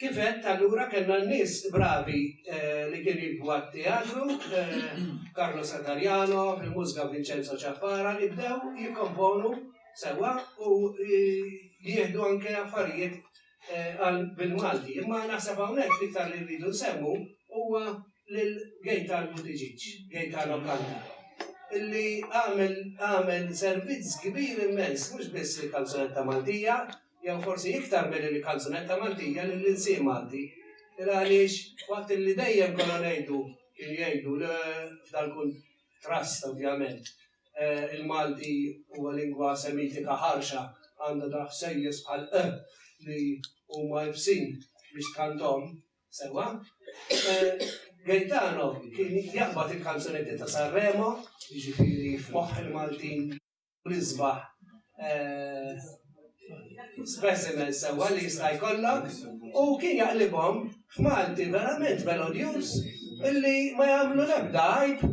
Kif għedt, allura kellna nies bravi li kienu jiktbu għat-teatru, Carlo Satariano, fil-mużika Vincenzo Ciappara, li bdew jikkomponu sewwa u jieħdu anke affarijiet bil-Malti. Imma naħseb hawnhekk l-iktar li rridu nsemmu huwa lil Gaetano Buttigieg, Gaetano Canta, li għamel servizz kbir immens mhux biss lill-kanzunetta Maltija, jew forsi iktar milli l-kanzunetta Maltija lill-ilsien Malti. Il għaliex waqt li dejjem konna ngħidu kien jgħidu li f'dal kun trast ovvjament eh, il-Malti huwa lingwa semitika ħarxa għandha daħ sejjes bħal e li huma ibsin biex tkantom sewa. Eh, Gaetano kien jaqbad il-kanzunetti ta' Sanremo, jiġifieri f'moħħ il-Maltin nisbaħ eh, specimen sewa li jista' jkollok u kien jaqlibhom f'Malti verament melodjus illi ma jagħmlu l-ebda għajb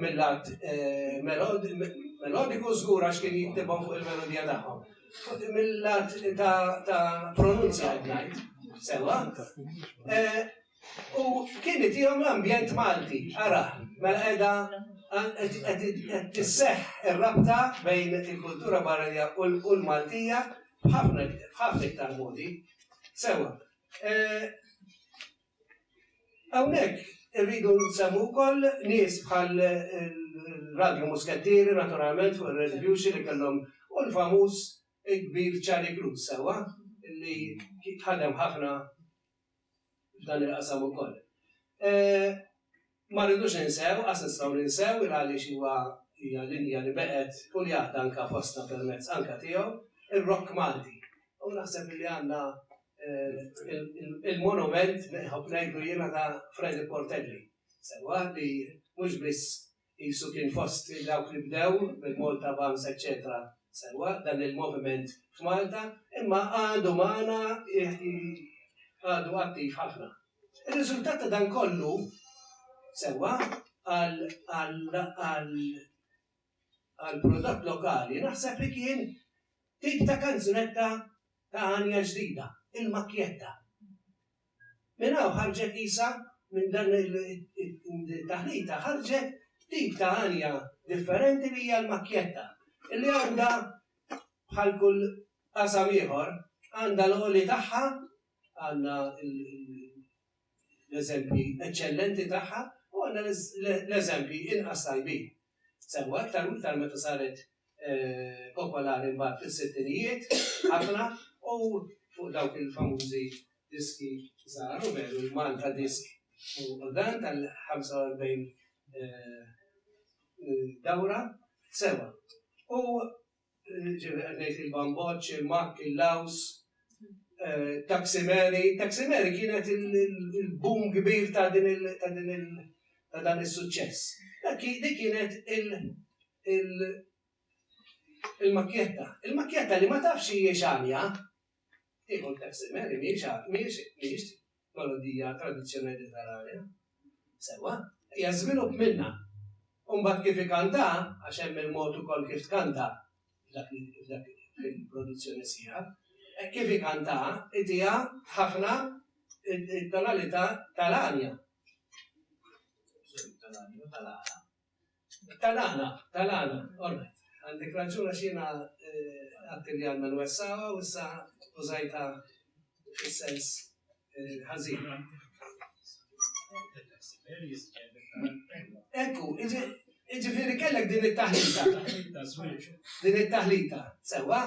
mill-lat eh, melodiku żgur għax kien jiktibhom fuq il-melodija tagħhom. Mill-lat ta' pronunzja ngħid sewa. Eh, U kien itihom l-ambjent Malti, ara, mela qiegħda qed tisseħħ ir-rabta bejn il-kultura barranija u l-Maltija b'ħafna b'ħafna iktar modi. Sewwa. Hawnhekk irridu nsemmu wkoll nies bħal Radju Muskettieri naturalment fuq ir-Red Viewxi li kellhom u l-famuż il-kbir Charlie Cruz sewwa li ħadem ħafna f'dan il-qasam ukoll. Ma rridux ninsew, qas nistgħu ninsew, il għaliex huwa, hija linja li beqgħet u li għadha anke fostna permezz anke tiegħu, ir-Rock Malti. U naħseb li għandna il-monument, nħobb ngħidlu jiena, ta' Freddie Portelli. Sewwa li mhux biss Qisu kien fost dawk li bdew bil-Malta Bams eċċetera sewwa dan il-moviment f'Malta imma għadu magħna għadu attiv ħafna. Ir-riżultat ta' dan kollu sewwa għall-prodott lokali naħseb li kien tip ta' kanzunetta ta' għanja ġdida, il-makkjetta. Minn hawn ħarġet qisha, minn dan it-taħlita ħarġet tip ta' għanja differenti li hija l-makkjetta, li għandha bħal kull qasam ieħor, għandha l-għoli tagħha, għandna l-eżempji eċċellenti tagħha u għandna l-eżempji inqas tajbin. Semmu aktar u iktar meta saret popolari mbagħad fis-sittinijiet ħafna u fuq dawk il-famużi diski żgħar u veru l-Malta Disk u dan tal-45 dawra sewa. U ġifieri qed ngħid il-bamboċċ, il-makk, il-laws, taksimeri. Taksimeri kienet il-boom kbir ta' din il- ta' din il- ta' dan is-suċċess. Dik kienet il-makkjetta. Il-makkjetta li ma tafx hijiex għalja, Tieħu t-taxi Mary mhijiex melodija tradizzjonali tal-arja. Sewwa, hija żvilupp minnha. U mbagħad kif ikantaha, għax hemm il-mod ukoll kif tkanta f'dak il-produzzjoni sħiħa, hekk kif ikantaha itiha ħafna t-tonalità tal-arja. Tal-arja u tal-għala. Tal-għana, tal-għana, alright. Għandek raġun għax jiena għadt li għandna nwessgħuha u issa użajtha fis-sens ħażin. Ekku, jiġifieri kellek din it-taħlita. Din it-taħlita, sewwa,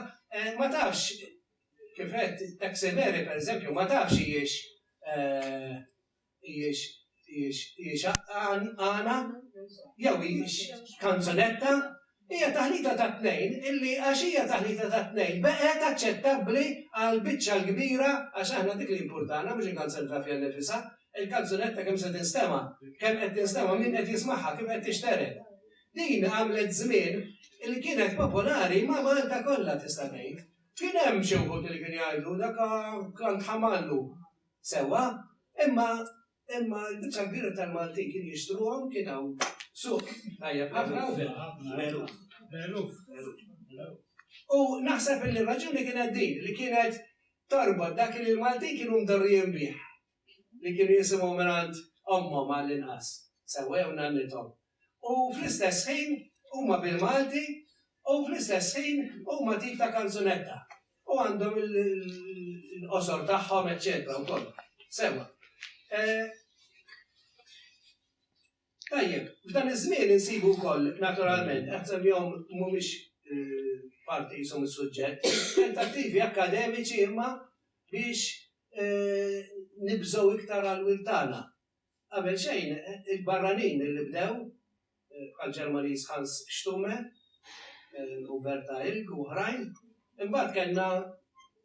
ma tafx kif qed taxi meri pereżempju ma tafx hijiex Hijiex għana jew hijiex kanzunetta, hija taħlita tat-tnejn illi għax hija taħlita tat-tnejn baqgħet aċċettabbli għall-biċċa l-kbira għax aħna dik li jimpurtana mhux il-kanzunetta fiha nnifisha, il-kanzunetta kemm se tinstema', kemm qed tinstema', min qed jismagħha, kif qed tixtered. Din għamlet żmien li kienet popolari ma' Malta kollha tista' tgħid. Kien hemm xi wħud li kienu jgħidu dak klant ħamallu. Sewwa, imma imma l-biċċa l-kbira tal-Maltin kienu jixtruhom kien hawn suq tajjeb ħafna u magħruf. Magħruf. U naħseb li r-raġuni kienet din li kienet torbod dak li l-Maltin kienu mdorrijin bih li kienu jisimgħu mingħand ommhom għall-inqas. Sewwa jew nannithom. u fl-istess ħin huma bil-Malti u fl-istess ħin huma tip ta' kanzunetta. U għandhom il-qosor tagħhom, eċċetera, wkoll. Sewa. Eh, tajjeb, f'dan iż-żmien insibu wkoll naturalment, qed jom mhumiex eh, parti jisom is-suġġett, tentattivi akademiċi imma biex eh, nibżgħu iktar għal wiltana. Qabel xejn, il-barranin li bdew, bħall-Ġermaniż Hans Stumme u Berta Ilg u oħrajn, imbagħad kellna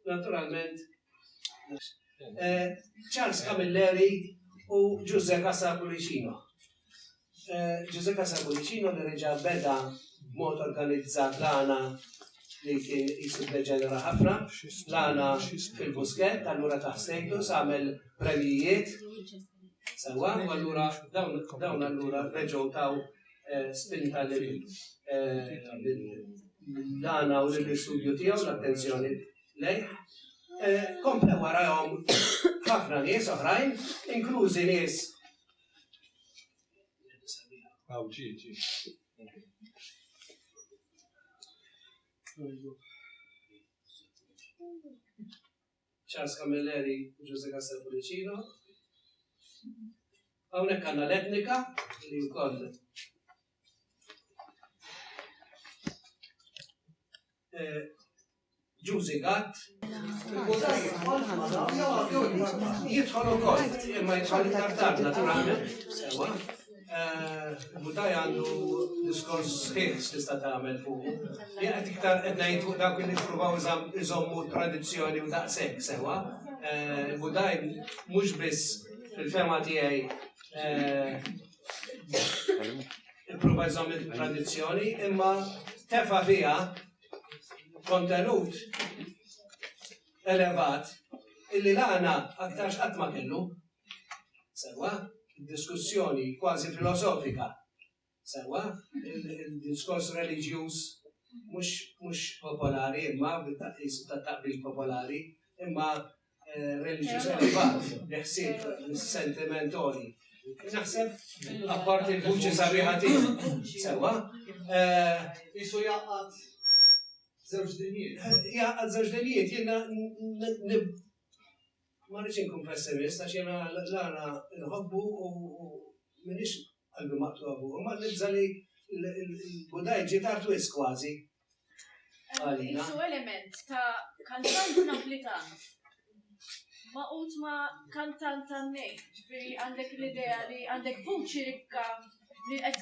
naturalment Charles Camilleri u Ġużè Casa Pullicino. Ġużè Casa Pullicino li reġa' beda b'mod organizzat l-għana li kien jisu deġenera ħafna, l-għana fil-Buskett, allura taħsejtu, għamel premjijiet. Sewa, u allura dawn allura reġgħu taw eh, spinta lil eh, l-għana u l-istudju tiegħu l-attenzjoni lejh. Eh, komple warahom ħafna nies oħrajn, inklużi nies. Għaw ġiġi. Charles Camilleri u Jose Castel Pullicino. Hawnhekk għandna l-etnika li wkoll eh, Ġużi Gatt. Jidħol ukoll, imma jidħol iktar tard naturalment. Mutaj għandu diskors sħiħ tista' tagħmel fuq. Jien qed iktar qed ngħid fuq dawk li nippruvaw iżommu tradizzjoni u daqshekk sewa. Mutaj eh, mhux biss fil-fema tiegħi eh, ipprova jżomm il-tradizzjoni, imma tefa fiha kontenut elevat illi l-għana aktarx qatt ma kellu. Sewa, diskussjoni kważi filosofika. Sewa, il-diskors reliġjuż mhux popolari imma bit-taqis ta' taqbil popolari imma eh, reliġjuż elevat li ħsieb sentimentoli. Naħseb apparti l-vuċi sabiħa tiegħu. Sewa, eh, isu jaqgħad żewġ dinjiet. Jaqgħad żewġ dinjiet, jiena Ma rridx inkun pessimist għax jiena l-għana nħobbu u minix qalbi maqtuha fuq, imma nibża' li l-Budaj ġie tard wisq kważi. Għalina. Su element ta' kantant Naplitan maqut ma' kantant tan-nejn, ġifieri għandek l-idea li għandek vuċi rikka li qed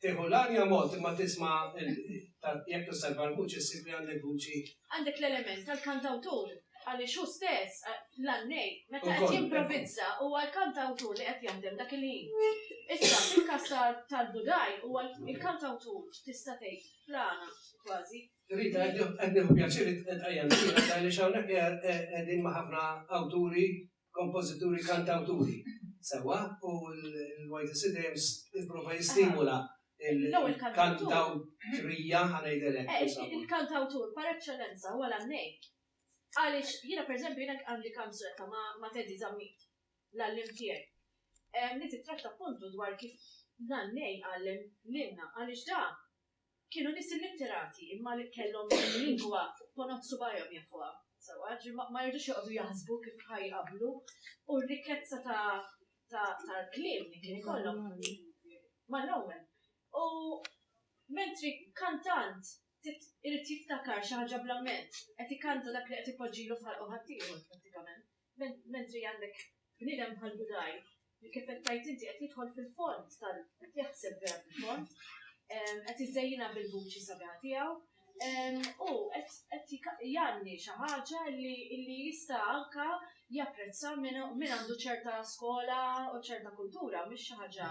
Tieħu l-arja ammont imma tisma' jekk tosserva l-vuċi ssib li għandek vuċi. Għandek l-element tal-kantawtur għaliex hu stess l-għannej meta qed jimprovizza huwa l-kantawtur li qed jaħdem dak il-ħin. Issa fil-każ tal-Budaj huwa l-kantawtur tista' tgħid plana kważi. Rita, qed nieħu pjaċir qed qajjem għaliex hawnhekk qegħdin ma' ħafna awturi kompożituri, kantawturi. Sewwa, u l-YTC dejjem tipprova jistimula il-kantawtrija ħanejdilek. Eh, il-kantawtur par eċċellenza huwa l-għannej. Għaliex jiena pereżempju jiena għandi kanzunetta ma' Teddy Zammit l-għallim tiegħek. Li titratta appuntu dwar kif l-għannej għallem lilna għaliex da Kienu nies illitterati imma li kellhom il-lingwa fuq ponot subgħajhom jafuha sewwa, ġifieri ma ma jridux joqogħdu jaħsbu kif ħa jqabblu u r-rikkezza ta' ta' tal-kliem li kien ikollhom mal-Roman. U mentri kantant trid irid jiftakar xi ħaġa bl-amment, qed ikanta dak li qed ipoġġilu f'ħalqu ħaddieħor prattikament. Mentri għandek bniedem bħal Budaj li kif qed tgħid inti qed jidħol fil-fond tal qed jaħseb vera fil-fond, qed iżejjinha bil-vuċi sabiħa tiegħu, u qed jgħanni xi ħaġa li jista' anke japprezza min għandu ċerta skola u ċerta kultura, mhix xi ħaġa.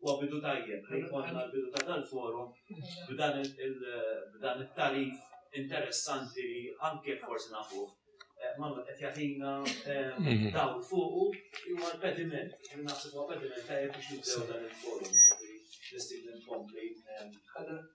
Huwa bidu tajjeb li jkollna l-bidu ta' dal-forum b'dan it-tagħrif interessanti li anke jekk forsi nafuh, ma qed jagħtina dawl fuqu li huwa l-pediment, li naħseb huwa pediment tajjeb biex nibdew dan il-forum. Nistidnu nkompli.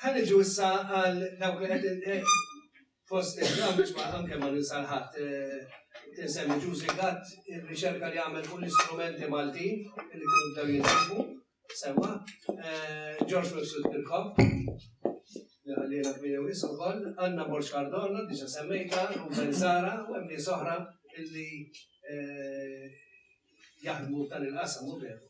Ħa niġu issa għal dawk li qed fost il-għamġ ma' anke ma' l-insalħat tinsemmi ġużi għat il-riċerka li għamel fuq l-istrumenti Malti li kienu bdew jinsibu semma George Wilson Kirkop li għallina kmini wis u koll Anna Borx Cardona diġa semmejta Ruben Zara u hemm nies oħra illi jaħdmu tal-inqasam u veru.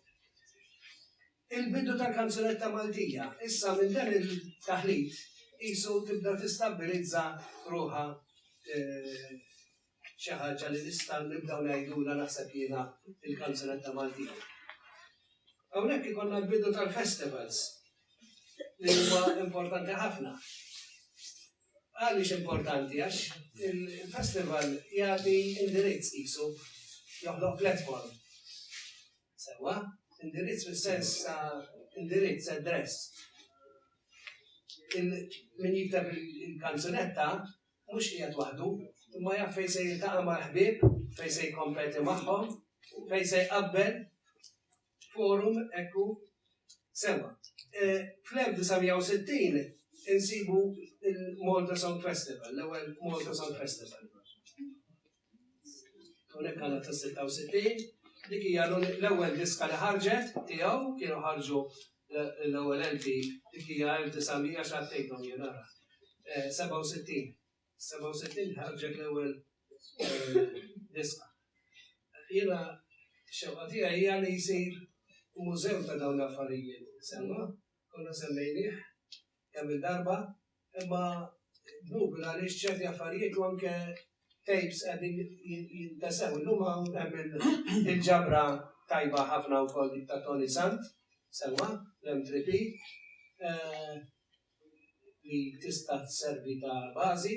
Il-bidu tal-kanzunetta Maltija, issa minn dan il-taħlit qisu tibda tistabbilizza ruħha xi ħaġa li nistgħu nibdew ngħidulha naħseb jiena il-kanzunetta Maltija. Hawnhekk ikollna l-bidu tal-festivals li huwa importanti ħafna. Għaliex importanti għax il-festival jagħti indirizz qisu joħloq platform Sewwa, indirizz fis-sens ta' indirizz, address. Min jikteb il-kanzunetta mhux qiegħed waħdu, imma jaf fejn se jiltaqa' mal-ħbieb, fejn se jkompeti magħhom, fejn se jqabbel forum ekku sewwa. E, Fl-1960 insibu il-Malta Song Festival, l-ewwel Malta Song Festival. Unek għal ta' 66, dik hija l-ewwel diska li ħarġet tiegħu kienu ħarġu l-ewwel enti dik hija 1900 xattejthom jien ara. 67. 67 ħarġet l-ewwel eh, diska. Jiena xewqa tiegħi hija li jsir mużew ta' dawn l-affarijiet. Semma Konna semmejnieh kemm il-darba, imma dnubna għaliex ċerti affarijiet u anke tapes qegħdin jintesew. Illum hawn hemm il-ġabra tajba ħafna wkoll dik ta' Tony Sant, sewwa, l-M3P, eh, li tista' tservi ta' bażi.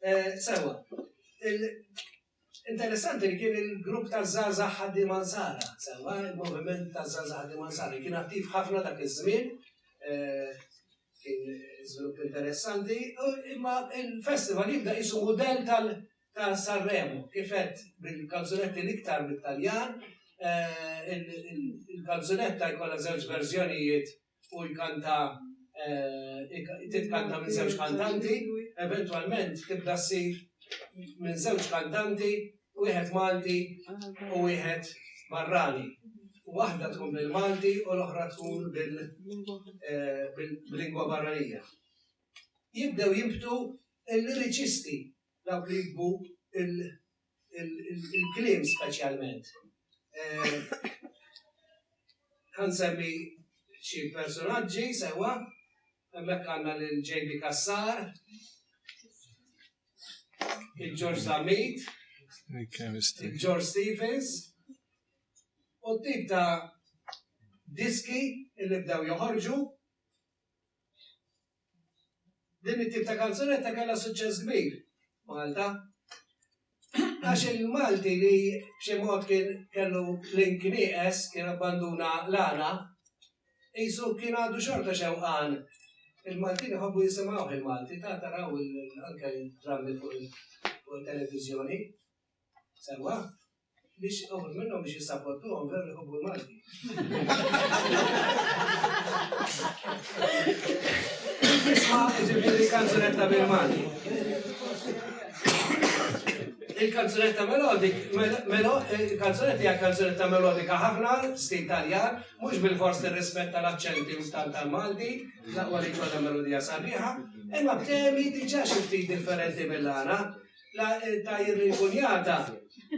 Eh, sewa, Interessanti li kien il-grupp ta' Zaza Ħaddi Mansara, sewa il-moviment ta' Zaza Ħaddi Mansara, kien attiv ħafna dak iż-żmien, eh, kien żvilupp interessanti, imma il-festival jibda jisu model ta' Sanremo, kifet bil-kanzunetti l-iktar mit-Taljan, eh, il-kanzunetta jkollha żewġ verżjonijiet u jkanta titkanta minn żewġ kantanti, eventwalment tibda ssir minn żewġ kantanti, wieħed Malti u wieħed barrani. Waħda tkun bil-Malti u l-oħra tkun bil-lingwa barranija. Jibdew jibtu l-liriċisti dawk li jibbu il-kliem speċjalment. Għansemmi eh, xi personaġġi sewa, hemmhekk għandna lil JB Kassar, il-George Zamit, il-George Stevens, u tip ta' diski il bdew joħorġu Din it-tip ta' kanzunetta kellha suċċess kbir Malta. Għax il-Malti li b'xi mod kien kellu link nieqes, kien abbanduna l-għana, qisu kien għadu xorta xewqan. Il-Maltin iħobbu jisimgħuh il-Malti, ta' taraw anke drammi fuq il-televiżjoni. Sewwa? Biex uħud minnhom biex jissapottuhom veru jħobbu l-Malti. Isma' ġifieri kanzunetta bil-Malti. Il-kanzunetta melodik, il-kanzunetta hija kanzunetta melodika ħafna, stil Taljan, mhux bil-fors tirrispetta l-aċċenti u stal tal-Malti, laqwa li kollha melodija sabiħa, imma b'temi diġà xi ftit differenti mill-għana. ta' jirrinkunjata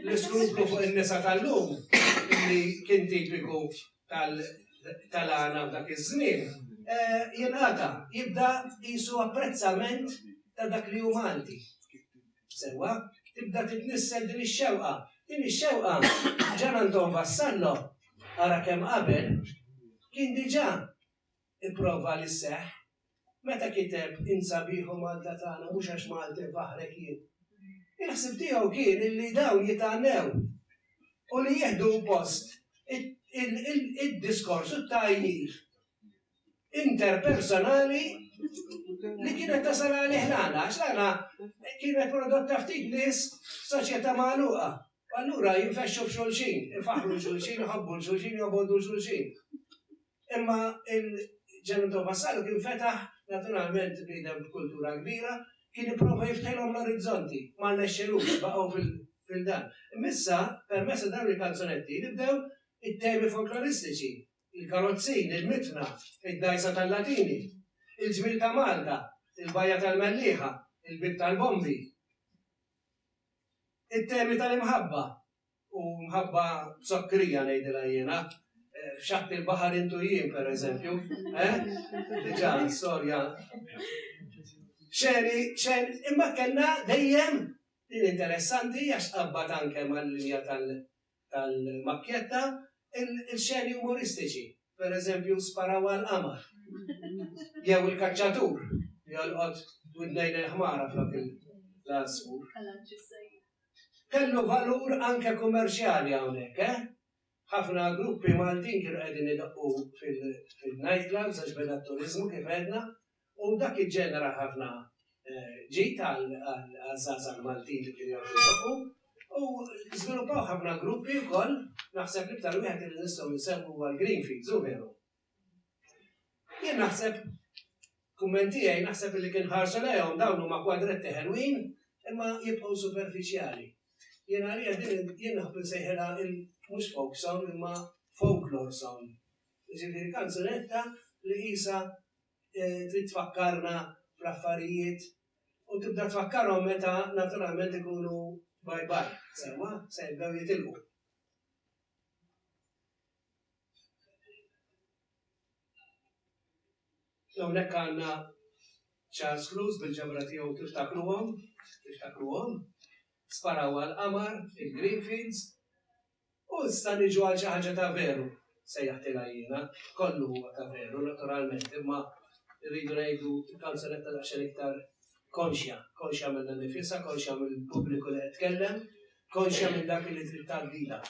l-iskruplu fuq in-nisa tal-lum li kien tipiku tal-għana f'dak iż-żmien, eh, jingħata jibda jisu apprezzament ta' dak li hu Malti. Sewa, tibda titnissel din ix-xewqa. Din ix-xewqa ġan Anton Vassallo ara kemm qabel kien diġà Ipprova li sseħħ. Meta kiteb Int Sabiħ o Malta Tagħna mhux għax Malti nfaħħrek jien. Il-ħsieb tiegħu kien illi dawn jitgħannew u li jieħdu post id-diskors u t-tgħajjir interpersonali li kienet tasal għalih l-għana, għax l-għana kienet prodotta ftit nies soċjetà magħluqa. Allura jinfexxu b'xulxin, ifaħru xulxin, iħobbu l-xulxin, jobogħdu l-xulxin. Imma il-Ġenitò Vassallo kien fetaħ, naturalment bniedem b'kultura kbira, kien ipprova jiftħilhom l-orizzonti, ma rnexxilux, baqgħu fil-dan. Imma issa, permezz ta' dawn il-kanzunetti, nibdew it-temi folkloristiċi, il-karozzin, il-mitna, id-dgħajsa tal-Latini, il-ġmiel ta' Malta, il-bajja tal-Mellieħa, il-bieb tal-bombi, it-temi tal-imħabba, U mħabba zokkrija ngħidilha jiena, f'xatt il-baħar intu jien pereżempju, eh? Diġà storja. Xeni, xen, imma kellna dejjem din interessanti għax qabbat anke mal-linja tal-makkjetta il-xeni umoristiċi, pereżempju sparaw għal-qamar. Jew il-kaċċatur jolqot widnejn il-ħmara flok il-lasmu. Kellu valur anke kummerċjali hawnhekk, eh? Ħafna gruppi Maltin kienu qegħdin idoqqu fil-nightclubs għax beda t-turiżmu kif għedna u dak iġġenera ħafna ġid għaż-żgħażagħ Maltin li kienu jgħodu jdoqqu u żviluppaw ħafna gruppi wkoll, naħseb l-iktar wieħed li nistgħu nsemmu huwa l-Greenfields, hu veru? Jien naħseb, kumment tiegħi, naħseb li kien ħarsu lejhom dawn huma kwadretti ħelwin imma jibqgħu superfiċjali. Jien għalija din jien naħb insejħilha mhux folk song imma folklore song. Jiġifieri kanzunetta li qisha eh, trid tfakkarna fl-affarijiet u tibda tfakkarhom meta naturalment ikunu bye bye, sewa, se jibdew jitilqu. Hawnhekk għandna Charles Cruz bil-ġemra tiegħu tiftakruhom, tiftakruhom, sparaw għall-qamar, il-Greenfields, u issa niġu għal xi ħaġa ta' veru, sejjaħtilha jiena, kollu huwa ta' veru naturalment, imma rridu ngħidu kanzunetta daqsxejn iktar konxja, konxja minnha nnifisha, konxja mill-pubbliku li qed tkellem, konxja minn dak li trid tgħaddilha.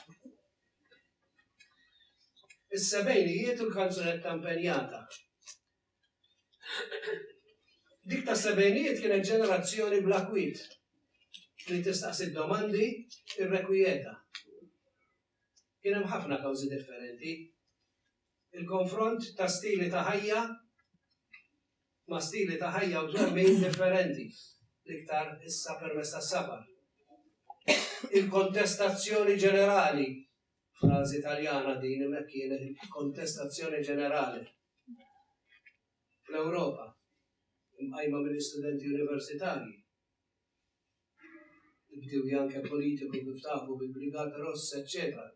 Is-sebgħinijiet u l-kanzunetta impenjata. Dik tas-sebgħinijiet kienet ġenerazzjoni bla kwiet li tistaqsi domandi irrekwijeta. Kien hemm ħafna kawżi differenti il-konfront ta' stili ta' ħajja ma' stili ta' ħajja u twemmin differenti, l-iktar issa permezz tas-sabar. Il-kontestazzjoni ġenerali, frażi Taljana din imma hekk kienet il-kontestazzjoni ġenerali fl-Ewropa, imqajma mill-istudenti universitarji, Ibdew janke politiku kif tafu bil-Brigate Rosse, eċċetera.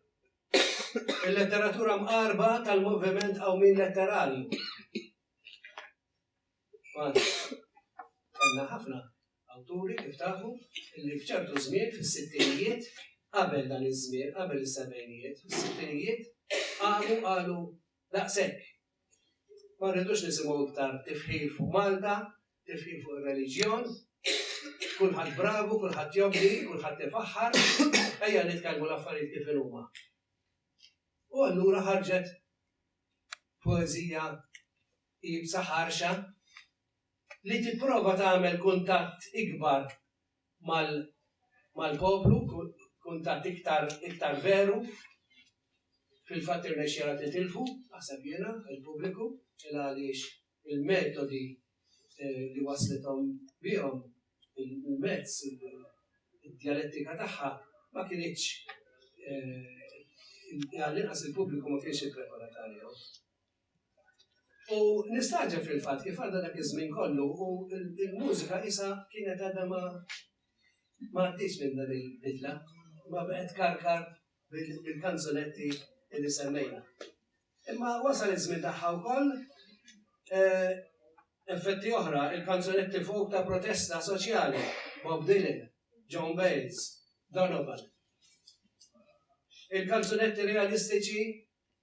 Il-letteratura mqarba tal-moviment qawmin letterarju. Għana, għanna ħafna awturi kif tafu li fċertu żmien fis-sittinijiet qabel dan iż-żmien, qabel is-sebgħinijiet, fis-sittinijiet qalu qalu Daqshekk. Ma rridux nisimgħu iktar tifħir fuq Malta, tifħir fuq ir-reliġjon, kulħadd bravu, kulħadd jobdi, kulħadd ifaħħar, ejja nitkellmu l-affarijiet kif inhuma. U allura ħarġet poeżija iebsa ħarxa li tipprova tagħmel kuntatt ikbar mal-poplu, kuntatt iktar veru, fil-fatt irnexxielha titilfu, naħseb jiena, il-pubbliku, il-għaliex il-metodi li wasslithom bihom, il-mezz, id-djalettika tagħha ma kinitx, għall-inqas il-pubbliku ma kienx ippreparat għalihom. U nistaġeb fil-fatt kif għadda dak iż-żmien kollu u l-mużika isa kienet għadha ma ma għaddix minn dan il-bidla, ma bqgħet karkar bil-kanzunetti li semmejna. Imma wasal iż-żmien tagħha wkoll eh, effetti oħra, il-kanzunetti fuq ta' protesta soċjali, Bob Dylan, John Bales, Donovan. Il-kanzunetti realistiċi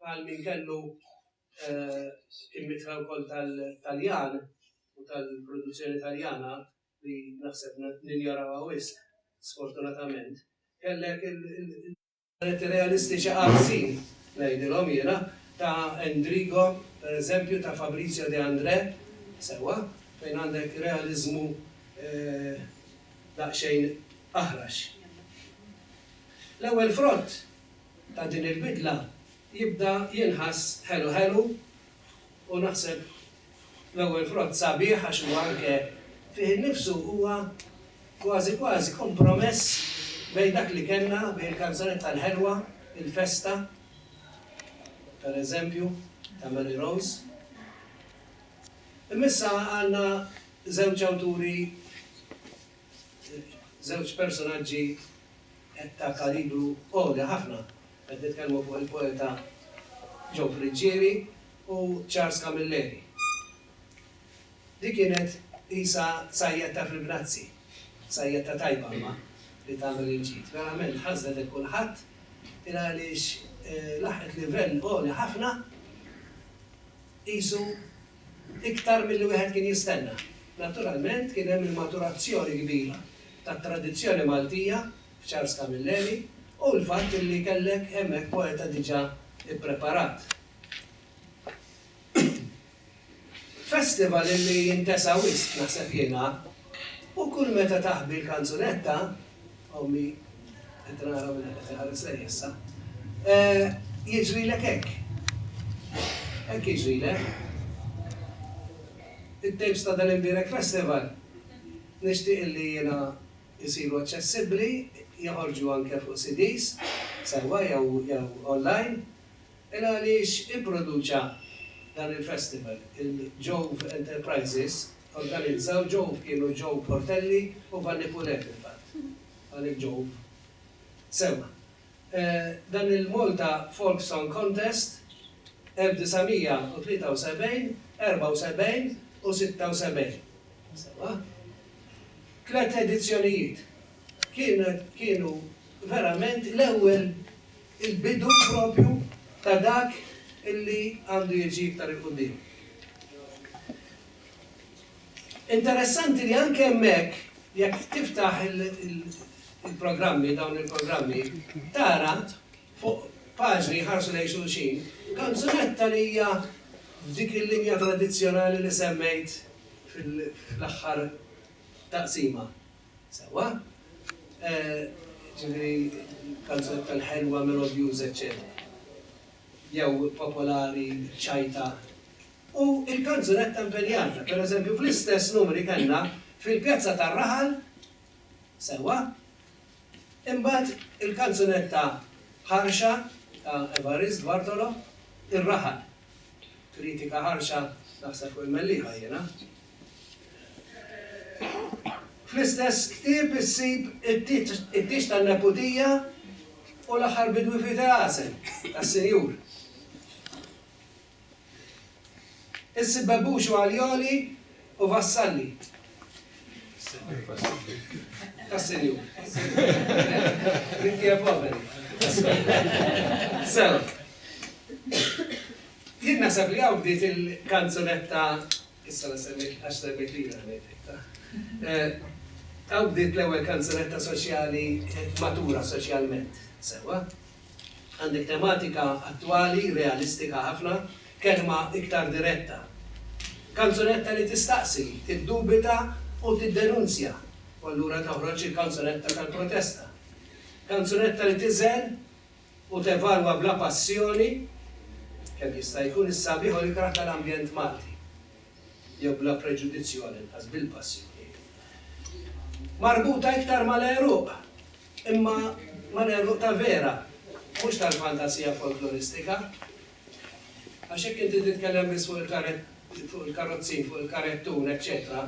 Bħal min kellu il-mitħla wkoll tal-Taljan u tal-produzzjoni Taljana, li naħseb ninjorawha wisq, sfortunatament, kellek il-portretti realistiċi qarsin, ngħidilhom jiena, ta' Endrigo, pereżempju, ta' Fabrizio De Andrè, sewwa, fejn għandek realiżmu daqsxejn aħrax. L-ewwel frott ta' din il-bidla jibda jinħass ħelu ħelu u naħseb l-ewwel frott sabiħ għax huwa anke fih innifsu huwa kważi kważi kompromess bejn dak li kellna, bejn il-kanzunetta l-ħelwa, il-festa, pereżempju, ta' Mary Rose. Imma issa għandna żewġ awturi, żewġ personaġġi Qed ta' kalibru għoli ħafna. Qed nitkellmu fuq il-poeta Joe Friggieri u Charles Camilleri. Di kienet qisha sajjetta fil-grazzi, sajjetta tajba imma li tagħmel il-ġid. Verament ħażnet lil kulħadd il-għaliex laħqet livell għoli ħafna qisu Iktar milli wieħed kien jistenna. Naturalment kien hemm il-maturazzjoni kbira tat-tradizzjoni Maltija f'Charles Camilleri u l-fatt li kellek hemmhekk poeta diġà ippreparat. Festival li jintesa wisq, naħseb jiena, u kull meta taħbi l-kanzunetta Ommi, qed nara minn hekk qed iħares lejja issa. Eh, jiġrilek hekk. Hekk jiġrilek. It-tapes ta' dal-imbierek festival nixtieq li jiena jsiru aċċessibbli, joħorġu anke fuq CDs, sewwa jew online. Il għaliex ipproduċa dan il-festival, il-Jove Enterprises, Organizzaw Jove kienu Joe Portelli u Vanni Poulet fil-fatt. Għalhekk Jove. Sewwa. Dan il-Malta Folk Song Contest 1973, 74 u 76. Sewwa. Tliet edizzjonijiet. Kienet, kienu verament l-ewwel, il-bidu proprju ta' dak illi għandu jiġi iktar 'il quddiem. Interessanti li anke hemmhekk jekk tiftaħ il-programmi, dawn il-programmi, tara fuq paġni jħarsu lejn xulxin, kanzunetta li hija f'dik il-linja tradizzjonali li semmejt fl-aħħar taqsima. Sewwa? Ġifieri kanzunetta l-ħelwa, melodjuża, eċċetera. Jew popolari, ċajta, u l-kanzunetta impenjata. Per eżempju, fl-istess numri kellna Fil-pjazza tar-raħal, sewwa, imbagħad il-kanzunetta ħarxa ta' Evarist Bartolo, Ir-raħal. Kritika ħarxa naħseb fuq il-Mellieħa jiena. Fl-istess ktieb issib It-tieġ tan-neputija u L-aħħar bidwi f'Itehasem tas-Sinjur. Issib Bebbux u Aljoli u Vassalli. Vassilju. Inti poveri. Sew. Jien naħseb li hawn bdiet il-kanzunetta issa la semmejt għax semmejt li Hawn bdiet l-ewwel kanzunetta soċjali matura soċjalment. Sewwa? Għandek tematika attwali, realistika ħafna, kelma iktar diretta. Kanzunetta li tistaqsi, tiddubita u tiddenunzja, u allura toħroġ il-kanzunetta tal-protesta. Kanzunetta li tiżen u tevalwa bla passjoni, kemm jista' jkun is-sabiħ u l-ikrah tal-ambjent Malti, jew bla preġudizzju għalinqas bil-passjoni. Marbuta iktar mal-għeruq, Imma ma negħlqu ta' vera, mhux tal-fantasija folkloristika. Għax jekk inti titkellem biss fuq il-karrozzin, fuq il-karettun, eċċetera,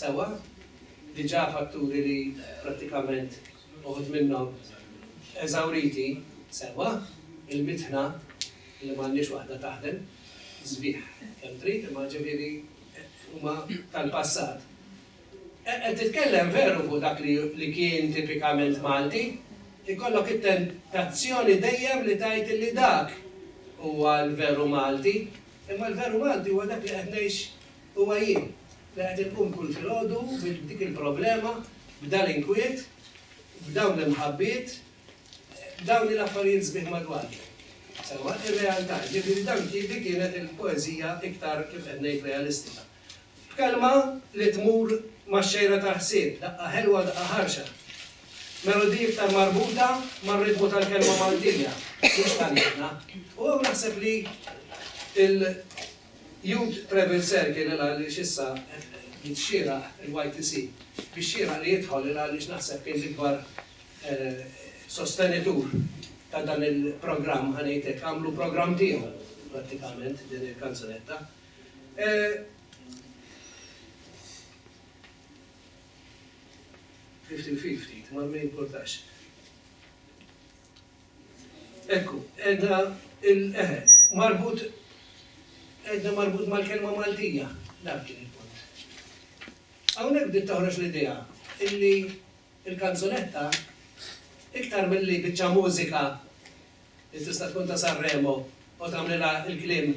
sewwa, diġà fatturi li prattikament uħud minnhom eżawriti, sewwa, il-mitħna li m'għandhiex waħda taħdem sbieħ kemm trid, imma ġifieri huma tal-passat. Qed titkellem veru fuq dak li kien tipikament Malti. Ikollok it-tentazzjoni dejjem li tgħid li dak huwa l-veru Malti. Imma l-veru Malti huwa dak li qed ngħix huwa jien, li qed inqum kull filgħodu b'dik il-problema, b'dan l-inkwiet, b'dawn l-imħabbiet, b'dawn il-affarijiet sbieħ madwarni. Sewwa, ir-realtà. Jiġifieri dan, dik kienet il-poeżija iktar, kif qed ngħid, realistika. B'kelma li tmur max-xejra tal-ħsieb, daqqa ħelwa, daqqa ħarxa. Melodija iktar marbuta mar-ritmu tal-kelma Maltija, mhux Taljana. U hawn naħseb li l-Youth Travel Circle il għaliex issa jrid xieraq il-YTC biex xieraq li jidħol il għaliex naħseb kien l-ikbar sostenitur ta' dan il-programm, ħa ngħid hekk, għamlu programm tiegħu prattikament din il-kanzunetta. Fifty fifty, ma jimpurtax. Ekku, għedna il-eħe, marbut, għedna marbut mal-kelma Maltija, dak kien il-punt. Hawnhekk bdiet toħroġ l-idea illi il-kanzunetta iktar milli biċċa mużika li tista' tkun ta' San Remo u tagħmlilha l-kliem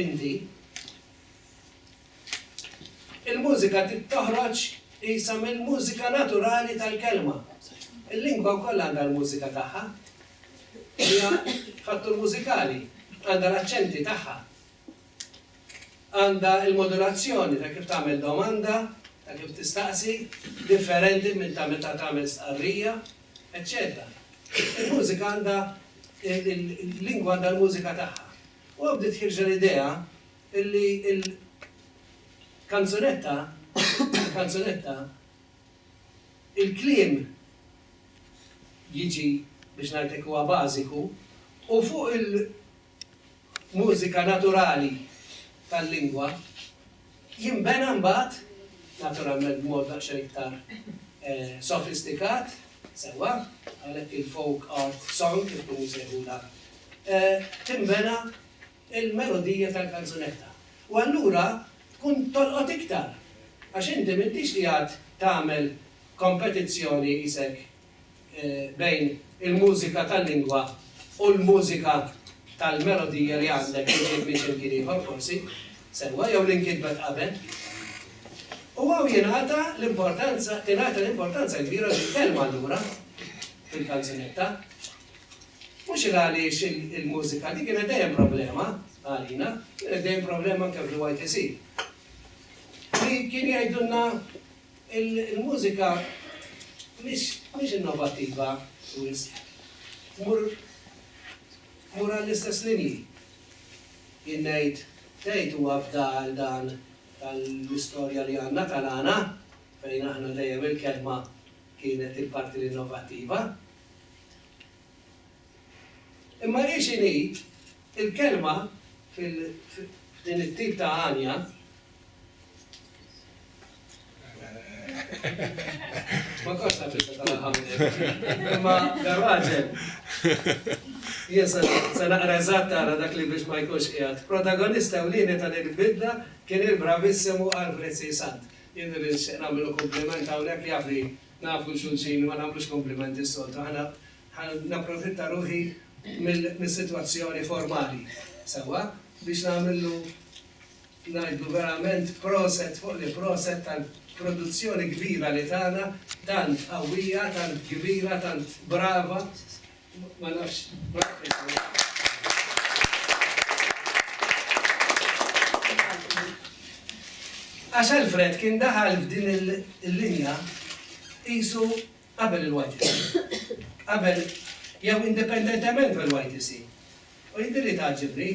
inti. Il-mużika toħroġ qisha mill-mużika naturali tal-kelma. Il-lingwa wkoll għandha l-mużika tagħha. Hija fattur mużikali, għandha l-aċċenti tagħha. għandha l-modulazzjoni ta' kif tagħmel domanda, ta' kif tistaqsi, differenti minn ta' meta tagħmel stqarrija, eċċetera. Il-mużika għandha, il-lingwa għandha l-mużika tagħha. U hawn bdiet ħirġa l-idea li l-kanzunetta, il-kanzunetta, il-kliem jiġi, biex ngħidlek, huwa bażiku u fuq il-, mużika naturali tal-lingwa, jinbena mbagħad, naturalment b'mod daqsxejn iktar sofistikat, sewwa, għalhekk il-folk art song kif ikunu jsejħulha, tinbena l-melodija tal-kanzunetta. U allura tkun tolqot iktar, għax inti m'intix qiegħed tagħmel kompetizzjoni qisek bejn il-mużika tal-lingwa u l-mużika tal-melodija li għandek li ġiet minn x'imkien ieħor forsi, sewwa, jew li nkitbet qabel. U hawn jingħata l-importanza, tingħata l-importanza kbira lill-kelma allura fil-kanzunetta. Mhux il għaliex il-mużika li kienet dejjem problema għalina, kienet dejjem problema anke fil-YTC. Li kien jgħidulna Il-mużika mhix innovattiva wisq. Tmur għall-istess linji. Jien ngħid, tgħid huwa fda għal dan tal-istorja li għandna tal-għana, fejn aħna dejjem il-kelma kienet il-parti l-innovattiva. Imma rridx inid, il-kelma f'din it-tip ta' għanja, ma kontx naf x'se tagħmel minn hekk, imma dan raġel, jien se naqra eżatt ara dak li biex ma jkunx qiegħed, protagonista ewlieni ta' din il-bidla kien il-bravissimu Alfred C. Sant. Jien irrid nixtieq nagħmillu kumpliment hawnhekk, jaf li nafu 'l xulxin imma nagħmlux kumplimenti s-soltu, aħna Ħa napprofitta ruħi mis-sitwazzjoni formali, sewwa, biex nagħmillu ngħidlu verament proset fuq l-proset tal-produzzjoni kbira li tana, tant qawwija, tant kbira, tant brava, ma nafx, brava. Għax Alfred kien daħal f'din il-linja qisu qabel il-YTC, qabel jew indipendentement mill-YTC. U jidhirli li tgħaġġibni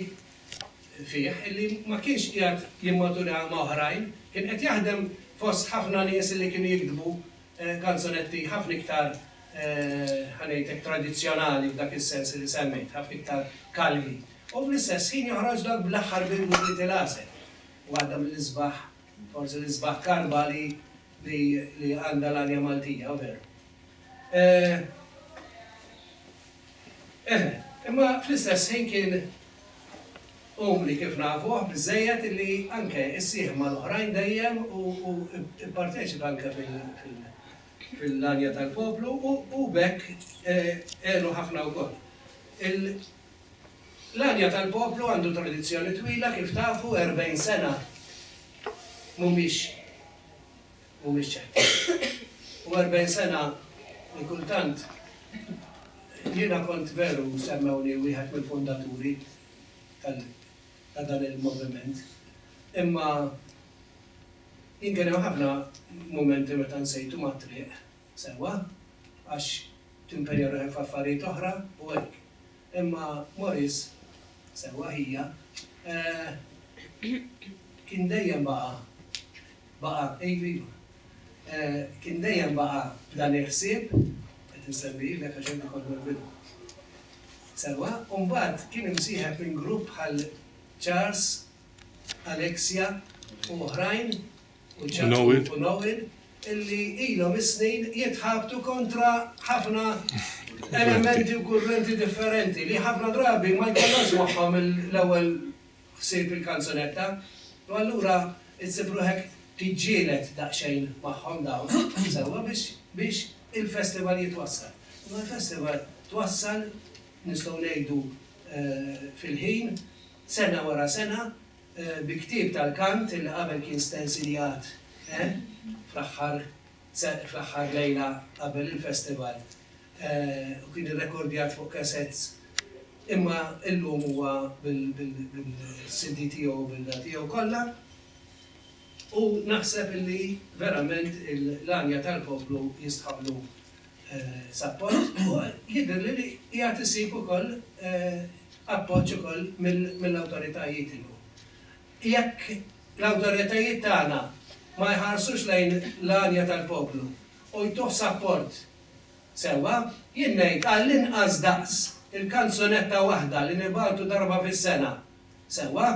fih illi ma kienx qiegħed jimmatura ma' oħrajn, kien qed jaħdem fost ħafna nies illi kienu jiktbu kanzunetti ħafna iktar, ħa ngħidlek, tradizzjonali f'dak is-sens illi semmejt, ħafna iktar kalmi. U fl-istess ħin joħroġ dak bl-aħħar bidu Little Hazel, waħda mill-isbaħ, forsi l-isbaħ karba li li li għandha l-arja Maltija veru. Eħe, imma fl-istess ħin kien umli kif nafuh biżżejjed illi anke issieħeb mal-oħrajn dejjem u u pparteċipa anke fil-għanja tal-poplu u b'hekk għenu ħafna wkoll. L-għanja tal-poplu għandu tradizzjoni twila kif tafu, 40 sena mhumiex mhumiex ċerti. U 40 sena li kultant jiena kont veru semmewni wieħed mill-fundaturi tal ta' dan il-moviment. Imma jien kien hemm ħafna mumenti meta nsejtu mat-triq. Sewwa, għax timpenja ruħek f'affarijiet oħra u hekk. Imma Maurice, sewwa ħija, kien dejjem baqa', baqa', iva, iva, kien dejjem baqa' b'dan il-ħsieb, qed insemmi lilek għax inti kont mill-bidu. Sewwa, u mbagħad kien imsieħeb minn grupp bħal Charles, Alexia u oħrajn u Ġakub u Noel illi ilhom is-snin jitħabtu kontra ħafna elementi u kurrenti differenti li ħafna drabi ma jkollhomx magħhom l-ewwel ħsieb il-kanzunetta u allura issib ruħek tiġġieled daqsxejn magħhom dawn sewwa biex biex il-festival jitwassal. Imma l-festival twassal nistgħu ngħidu fil-ħin, sena wara sena, bi ktieb tal-kant illi qabel kien stensiljat fl-aħħar fl-aħħar lejla qabel il-festival u kien irrekordjat fuq cassettes imma illum huwa bil-CD tiegħu u bil-da tiegħu kollha u naħseb illi verament l-għanja tal-poplu jistħoqqlu sapport u jidhirli li qiegħed isib ukoll appoġġ ukoll mill-awtoritajiet illum. Jekk l-awtoritajiet tagħna ma jħarsux lejn l-għanja tal-poplu u jtuh sapport sewwa, jien ngħid għall-inqas daqs il-kanzunetta waħda li nibagħtu darba fis-sena sewwa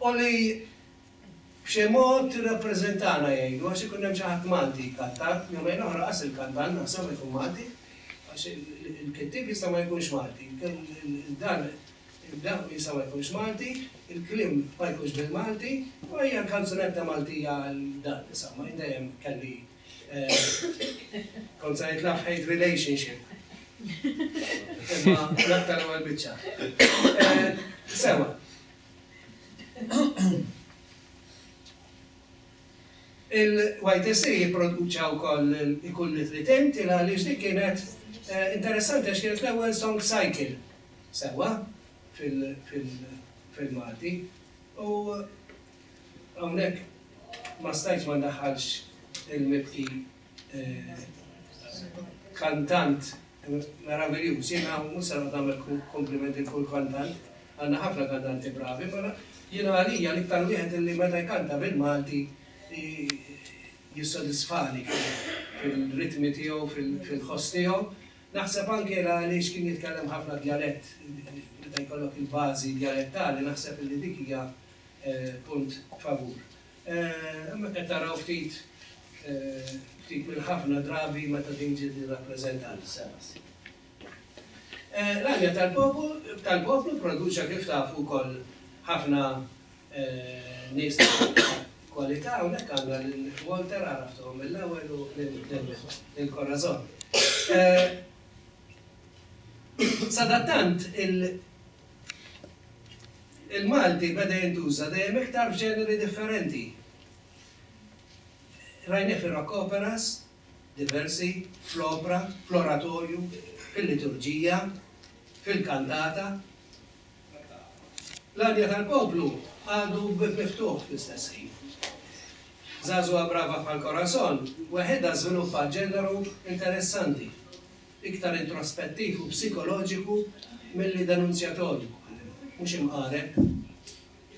u li B'xi mod tirrappreżentana jgħidu għax ikun hemm xi ħadd Malti jkantan, jumejn oħra qas il-kantant naħseb ma jkun Malti għax il-kittieb jista' ma jkunx Malti, dan il-għan jista' ma jkunx Malti, il-kliem ma jkunx bil-Malti, imma hija l-kanzunetta Maltija għal dan insomma jien dejjem kelli kont se ngħid love hate relationship. Imma l-aktar l-ewwel biċċa. Sewa. Il-YTC ipproduċa wkoll Ikun Nitrit Int li għaliex dik kienet interessanti għax kienet l-ewwel song cycle sewwa fil-Malti u hawnhekk ma stajtx ma ndaħħalx il-mibki. Kantant meraviljuż, jiena mhux se noqgħod nagħmel kumpliment lil kull kantant, għandna ħafna kantanti bravi, imma jiena għalija l-iktar wieħed illi meta jkanta bil-Malti jissodisfani fir-ritmi tiegħu, fil-ħoss tiegħu. Naħseb anke era għaliex kien jitkellem ħafna djalett, meta jkollok il-bażi djalettali naħseb illi dik hija punt favur. Imma qed taraw ftit ftit mill-ħafna drabi meta din ġiet irrappreżentata s-sena s-sibt. L-għanja tal-popu tal-poplu pproduċa kif tafu wkoll ħafna nies ta' kwalità hawnhekk għandna lil Walter għaraftuhom mill-ewwel u lil Corazon. Sadattant il Il-Malti beda jintuża dejjem iktar f'ġeneri differenti. Rajnieh fir-rock operas, diversi, fl-opra, fl-oratorju, fil-liturġija, fil-kantata. L-għanja tal-poplu għadu bieb miftuħ fl-istess ħin. Żagħżugħa brava bħal Corazon weħidha żviluppat ġeneru interessanti. iktar introspettiv u psikoloġiku milli denunzjatorju. Mhux imqareb.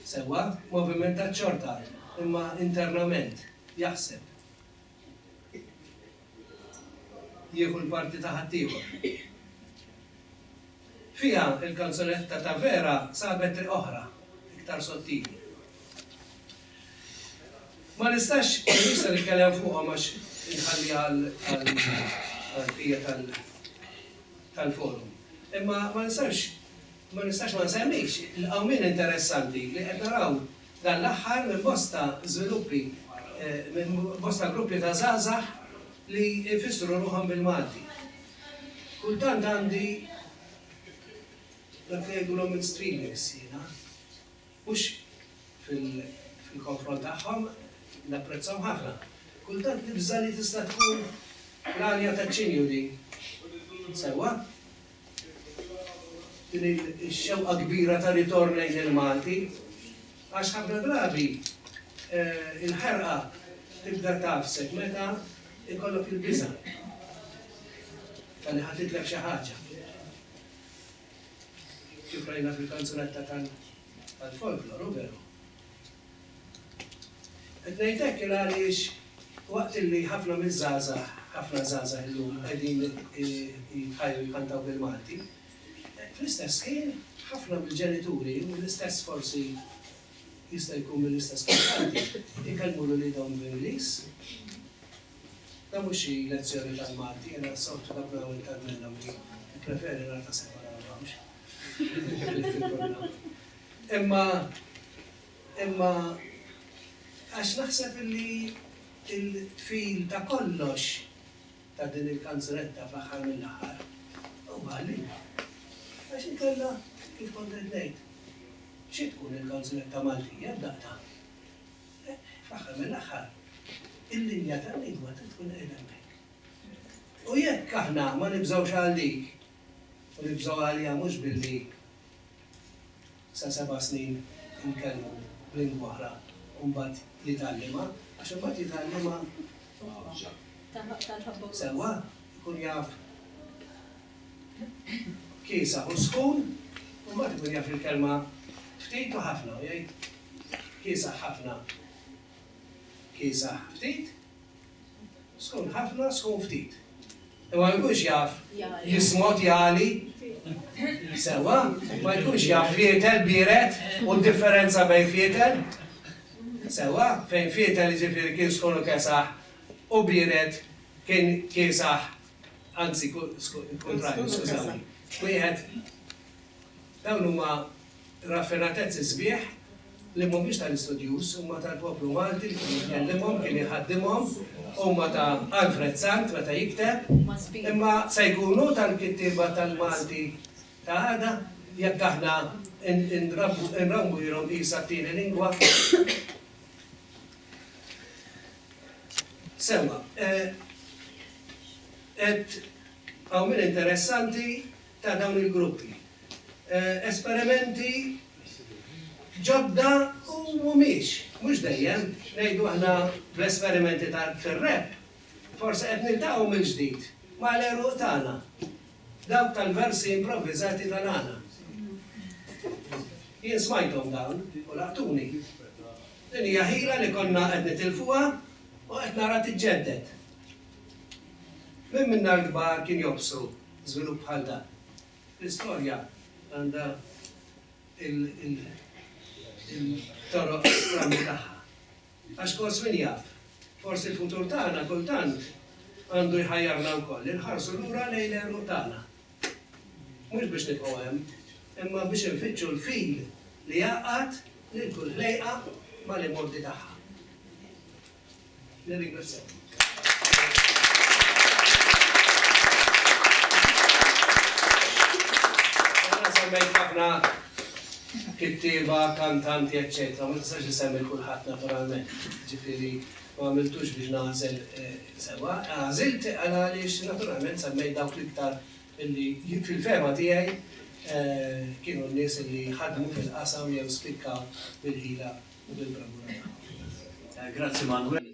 Sewwa, movimentat xorta, imma internament, jaħseb. Jieħu l-parti ta' ħaddieħor. Fiha, il-kanzunetta ta' Vera sabet triq oħra, iktar sottili. Ma nistax, mhux se nitkellem fuqhom għax inħalliha għall-bqija tal-forum. Imma ma nistax ma nistax ma nsemmix il-qawmien interessanti li qed naraw dan l-aħħar minn bosta żviluppi, minn bosta gruppi ta' żgħażagħ li jfissru ruħhom bil-Malti. Kultant għandi dak li jgħidulhom in streamings jiena. Mhux fil-konfront tagħhom, napprezzahom ħafna. Kultant nibża' li tista' tkun l-għanja taċ-ċinju din. Sewwa? Din ix-xewqa kbira ta' ritorn lejn il-Malti. Għax ħafna drabi l-ħerqa tibda tagħfsek meta jkollok il-biża' ta' li ħa titlef xi ħaġa. Kif rajna fil-kanzunetta tal-folklor, hu veru. Qed ngħid hekk il għaliex waqt illi ħafna miż-żgħażagħ, ħafna żgħażagħ illum qegħdin jitħajru jkantaw bil-Malti, fl-istess ħin ħafna mill-ġenituri u l-istess forsi jista' jkun mill-istess kantanti jkellmu lil uliedhom bl-Ingliż. Dan mhux xi lezzjoni tal-Malti, jiena s-soltu dak li għamel Carmella Mia, nippreferi rata separata mhux il-livelli kollha. Imma imma għax naħseb illi il-qfil ta' kollox ta' din il-kanzunetta fl-aħħar mill-aħħar huwa għall-lingwa. Għax inkella, kif kont qed ngħid, xi tkun il-kanzunetta Maltija f'daqqa? Fl-aħħar mill-aħħar, il-linja tal-lingwa trid tkun qiegħda hemmhekk. U jekk aħna ma nibżgħux għal dik, u nibżgħu għaliha mhux billi sa seba' snin inkellmu b'lingwa oħra u mbagħad jitgħallimha, għax imbagħad jitgħallimha sewwa, ikun jaf kiesaħ u sħun, u mbagħad ikun jaf il-kelma ftit u ħafna u jgħid, Kiesaħ ħafna, kiesaħ ftit, sħun ħafna, sħun ftit. U ma jkunx jaf jismot jali, sewa, ma jkunx jaf fietel biret u differenza bejn fietel. Sewa, fejn fietel ġifiri kien sħun u kesaħ u biret kien kiesaħ, anzi, kuntrarju, skużawni. Wieħed, dawn huma Raffinatezzi sbieħ li mhumiex tal-istudjuż, huma tal-poplu Malti li kien jitkellimhom, kien iħaddimhom, huma ta' Alfred Sant meta jikteb, imma se jkunu tal-kittieba tal-Malti ta' għada jekk aħna nrawwilhom qisha t-tieni lingwa? Sewwa, qed hawn min interessanti ta' dawn il-gruppi. Esperimenti ġodda u mhumiex, mhux dejjem, ngħidu aħna bl-esperimenti ta' fir-rap, forsi qed niltaqgħu mill-ġdid ma' l-għeruq tagħna, dawk tal-versi improvviżati ta' nagħna. Jien smajthom dawn u laqtuni. Din hija ħila li konna qed nitilfuha u qed nara tiġġedded. Min minna l-kbar kien jobsru Żvilupp bħal dan. L-istorja għandha il-toroq stramba tagħha. Għax kors min jaf, forsi l-futur tagħna kultant għandu jħajjarna wkoll li nħarsu lura lejn l-għeruq tagħna. Mhux biex nibqgħu hemm, imma biex infittxu l-fil li jgħaqqad lil kull ħlejqa mal-imgħoddi tagħha. kittieba, kantanti, eccetera. Ma tistax isemmi kulħadd naturalment. Ġifieri ma għamiltux biex nagħżel sewwa. Għażilt għaliex naturalment semmejt dawk l-iktar Illi fil-fehma tiegħi kienu n-nies illi ħadmu fil-qasam jew spikkaw bil-ħila u bil-bravura tagħhom. Grazzi Manwel.